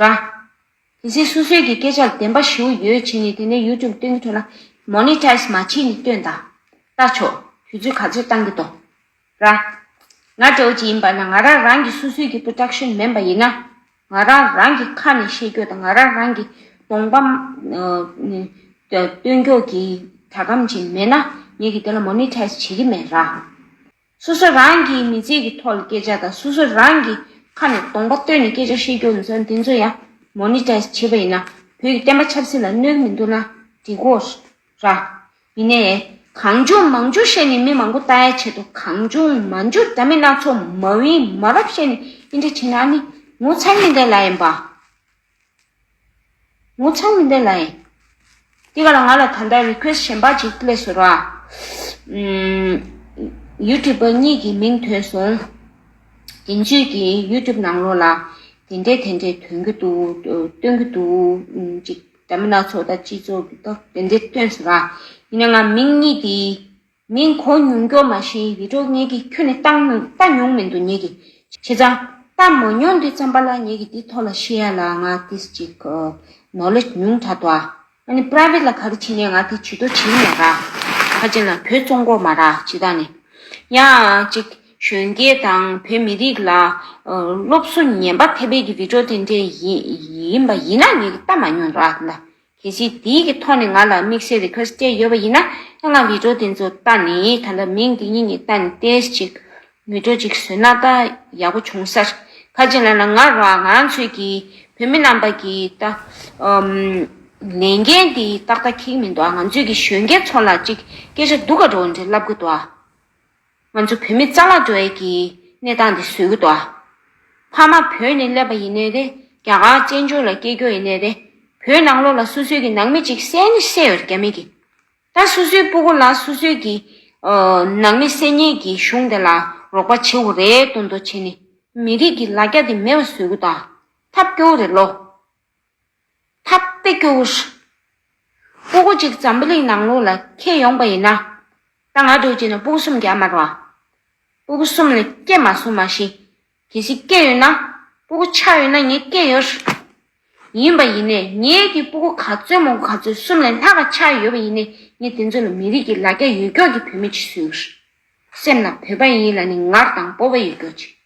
ར། དེ་སྲིད་སོ་སོའི་གི་སྐད་ཆ་ལ་བདེན་པ་ཞིའུ་ཡོད་བྱས་ནས་དེ་ནས YouTube སྟོན་གི་འདྲ་ན Monetize མ་བྱས་ནས་སྟོན་ད། ལྟ་ཆོག་དུས་ཚོད་ག་ཚོད་བཏང་གི་འདུག་ར། ང་ཀྲའོ་ཅི་ཡིན་པ་ན་ང་རང་རང་གི་སོ་སོའི་གི Production མེན་པ་ཡིན་ན། ང་རང་རང་གི་ཁ་ནས་བཤད་རྒྱུ་དང་ང་རང་རང་གི་གདོང་པ། སྟོན་རྒྱུག་གི་གྲ་གམ་ཅིག་མེད་ན་ངས་གི་དེ་ལ Monetize བྱེད་གི་མེད་ར། སོ་སོ་རང་གིས་མི་ཚེ་གི་ཐོག་ལ་སྐད་ཆ་དང་སོ་སོ་རང་གིས་ཁ་ནས་གདོང་པ་བཏོན་ནས་སྐད་ཆ་བཤད་རྒྱུ་འདི་ཚོ་ཡང Monetize བྱེད་པ་ཡིན་ན་བོད་ཀྱི་བསྟན་པ་ཆབ་སྲིད་ལ་གནོད་མི་འདུག་ན་འགྲིག་གོ། ར། མི་ནས། གང་བྱུང་མང་བྱུང་བཤད་ནས་མི་མང་པོ་ལྟ་ཡ་བྱེད་དོ་གང་བྱུང་མ་འཇུག་འདྲ་མི་སྣ་ཚོ་མ་བིན་མ་རབས་བཤད་ནས་འདི་འདྲ་བྱེད་ན་ནི་ངོ་ཚ་ཉེས་འདེད་ལ་ཡིན་པ། ངོ་ཚ་མི་འདོད་ན་ཡིན། དེ་ག་ལ་ང་ལ་ད་ལྟ request གཞན་པ་ཅིག་སླེབས་སོ་ར། YouTuber གཉིས་ཀྱི་མིང་ཐོས་སོང། དེ་གཉིས་ཀྱི YouTube ནང་ལོགས་ལ་དེ་འདྲས་དེ་འདྲས་དོན་གྱི་འདུག་སྟོན་གྱི་འདུག་ཅིག། དྲ་མི་སྣ་ཚོགས་དང་སྤྱི་ཚོགས་ཀྱི་ཐོག་དེ་འདྲས་སྟོན་སོ་ར། ཡིན་ན་ང་མིང་གཉིས་དེའི་ངས་མགོ་ཉུང་མགྱོགས་མ་བཞིན་ཡིད་འཕྲོག་ངེད་ཀྱིས་ཁྱོད་ནི་བལྟ་མྱོང་མི་འདུག་ངེད་ཀྱིས་བྱས་ཙང། བལྟ་མ་མྱོང་དུས་ཙམ་པ་ལ་ངེད་ཀྱིས་འདི་ཐོག་ལ་ཤེས་ཡ་ལ་ང་དེས་ཅིག Knowledge ཉུང་དྲགས་འདུག་ཨ། ང་ནི Private ལ་ག་རེ་བྱེད་ནས་ང་དེ་བྱེད་དོ་བྱེད་མེད་ར། ཁ་ཅན་ལ་བོད་བཙོང་མགོ་མ་ར་བྱེད་ད་ནི། ཡང་ཅིག་གཞོན་སྐྱེས་དང་བོད་མི་རིགས་ལ་སློབ་གསོ་ཉན་པ་ཐེབས་པའི་གི་རི་བྲོ་དེ་འདྲས་ཡིན་པ་ཡིན་ན་ངེད་ཀྱིས་བལྟ་མ་མྱོང་དུ་ཨ་དེ་འདྲ། གལ་སྲིད་དེའི་གི་ཐོག་ནས་ང་ལ་དམིགས་བསལ་རེ་ཁཱ་སྤྲད་ཡོད་པ་ཡིན་ན་ཁྱེད་རང་བིད་འགྲོ་དེ་ཚོ་ལྟ་ནས་ད་ལྟ་མིང་དེ་གཉིས་ནས་ལྟ་ནས་ཏེས་ཅིག་མི་འགྲོ་ཅིག་བཟོས་ན་ད་ཡག་པོ་བྱུང་སར་ཁ་ཅིག་ལ་ན་ང་རང་ང་རང་ཚོས་གི་བོད་མི་རྣམ་པ་གི་ད་ལས་འགན་དེ་ཏག་ཏག་ཁེག་མིན་འདུག་ང་ཚོས་གི་གཞོན་སྐྱེས་ཚོ་ལ་ཅིག་སྐད་ཆ་འདུག་ག་འགྲོ་འདྲེ་ལབ་གི་འདུག་ཨ། ང་ཚོ་བོད་མི་རྩ་ལག་འགྲོ་ཡས་ཀྱི་གནས་སྟངས་འདི་བཟོས་གི་འདུག་ཕ་མ་བོད་ནས་སླེབས་པ་ཡིན་ནའི་རེད་རྒྱ་གར་བཅས་འབྱོར་ལ་སྐྱེས་འགྱོ་ཡིན་ནའི་རེད་བོད་ནང་ལོག་ལ་སོ་སོས་ཀྱི་ནང་མི་གཅིག་བསད་ནི་བསད་ཡོད་རྒྱ་མི་གི་ད་སོ་སོའི་སྤུ་གུ་ལ་སོ་སོས་ཀྱི་ནང་མི་བསད་ཉེས་ཀྱི་གཞུང་དེ་ལ་རོགས་པ་བྱེད་འོ་རེད་དོན་དོ་བྱེད་ནི་མི་རིགས་ཀྱི་ལ་རྒྱ་དེ་མེད་པ་བཟོས་གི་འདུག་ཐབས་སྐྱོ་བོ་རེད་ལོ་འཐབ་པའི་སྐྱོ་བོ་ཞིག། སྤོ་སྒོ་གཅིག་འཛམ་བུ་གླིང་ནང་ལོགས་ལ་ཁྱེད་ཡོང་པ་ཡིན་ན། ད་ང་སྒྲོལ་གྱིས་ནི་སྤོ་སྒོ་གསུམ་རྒྱག་མ་རུང། སྤོ་སྒོ་གསུམ་ནི་སྐྱེས་མ་སོང་མ་གཞི། གལ་སྲིད་སྐྱེས་ཡོད་ན། སྤོ་སྒོ་ཆགས་ཡོད་ན་ངས་སྐྱེས་ཡོད། ཡིན་པ་ཡིན་ནས་ངས་ཀྱི་སྤོ་སྒོ་ག་ཚོད་མོ་ག་ཚོད་གསུམ་ལས་ལྷག་ག་ཆགས་ཡོད་པ་ཡིན་ནས་ངས་དེ་ཚོ་ལ་མི་རིགས་ཀྱི་ལ་རྒྱ་ཡོད་ཀྱོག་གྱི་བུད་མེད་ཅིག་བཟོས་ཡོད། སེམས་ན་བོད་པ་ཡིན་ལ་ནི་ངར་དང་སྤོ་བ་ཡོད་ཀྱོག་ཅིག།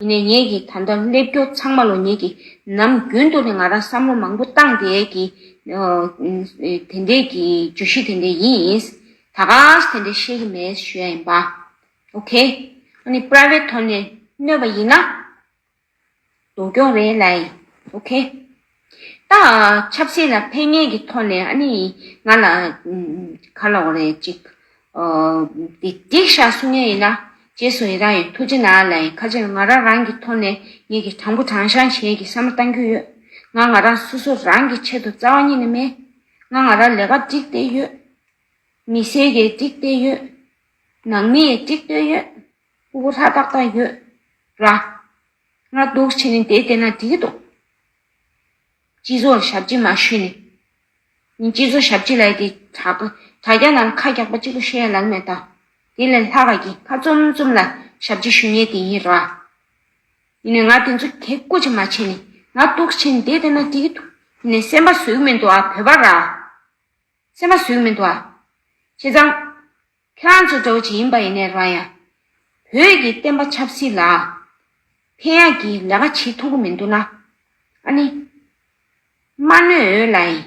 དེ་ནས་ངེད་ཀྱིས་ད་ལྟ་སླེབས་རྒྱུ་ཚང་མ་ལོ་ཉེས་ཀྱི་ནམ་རྒྱུན་དུ་ནས་ང་རང་བསམ་བློ་མང་པོ་བཏང་དེ་ཀྱི་དེ་འད་ཀྱི་བརྗོད་གཞི་དེ་འད་ཡིན། ད་གངས་དེ་འད་ཤེས་ཀྱི་མེད་ཞོད་ཡིན་པ། ok། ཨ་ནི private དོན་ནས་གནོད་པ་ཡིན་ན། དོ་སྐྱོང་རེད་ལའི། ok། ད་ཆབ་སྲིད་ལ་ཕན་ངེས་ཀྱི་ཐོག་ནས་ཨ་ནི་ང་ལ་ག་ལོག་རེད་ཅིག་དེ་འགྲིག་ཤག་གསུང་ངེས་ཡིན་ན་རྗེས་སུ་ཡི་རང་ཡོད་ཐུགས་རྗེ་ན་ལ་ཡིན་ཁ་ཆེར་ང་རང་རང་གི་ཐོག་ནས་ངེད་ཀྱི་དྲང་པོ་དྲང་ཤང་གཞན་གྱི་བསམ་བློ་གཏང་རྒྱུ་ཡོད་ང་ང་རང་སོ་སོ་རང་གི་ཆེད་དུ་རྩ་བ་ཉིད་ནས་མེད་ང་ང་རང་ལས་ཀ་འགྲིག་བསྡད་ཡོད། མི་སེར་གྱི་འགྲིག་བསྡད་ཡོད། ནང་མི་ཡི་འགྲིག་བསྡད་ཡོད། སྐུ་ལྷ་ཏག་ཏག་ཡོད། ར། སྔགས་བཟློག་བྱས་ནས་དེ་བསྟན་ན་དེས་བཟློག། སྤྱི་ཚོགས་ཞབས་ཕྱི་མ་ཞུས་ནས། ཡིན་སྤྱི་ཚོགས་ཞབས་ཕྱི་ལ་དེ་དྲག། དྲ་རྒྱ་ལ་ཁ་རྒྱག་པ་གཅིག་པུ་ཤེས་ཡ་ལགས་མེད་ད། དེ་ལས་ལྷ་ག་གིས་ཁ་བཙུམ་བཙུམ་ལ་ཞབས་ཕྱི་ཞུ་ཉེ་དེ་ཡིན་ར། ཡིན་ནས་ང་དེ་ཚོ་གེགས་བཀོ་ཅི་མ་བྱས་ནས་སྔགས་བཟློག་བྱས་ནས་དེ་བསྟན་ན་དེས་བཟློག། ཡིན་ནས་སེམས་པ་ཟོས་མིན་འདུག་ཨ་བོད་པ་ར། ཚད་མ་ཟོས་མི་འདུག་ཨ། ཁྱེད་རང། ཁྱེད་རང་ཚོ་གྲོགས་ཅིག་ཡིན་པ་ཡིན་ནའི་རང་ཡང། བོད་ཀྱི་བསྟན་པ་ཆབ་སྲིད་ལ། ཕན་ཡག་གི་ལས་ཀ་བྱེད་ཐུབ་ཀྱི་མི་འདུག་ན། ཨ་ནི། མ་གནོད་འོས་ལ་ཡིན།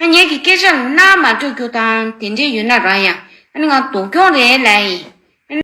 ཨ་ངེད་ཀྱི་སྐད་ཆ་ལ་རྣ་མ་སྤྲོད་རྒྱུ་དང་དེ་འདྲས་ཡོད་ན་རང་ཡང། ཨ་ནི་ང་ལྡོག་རྒྱུང་རེད་ལ་ཡིན། ཨ་ནི།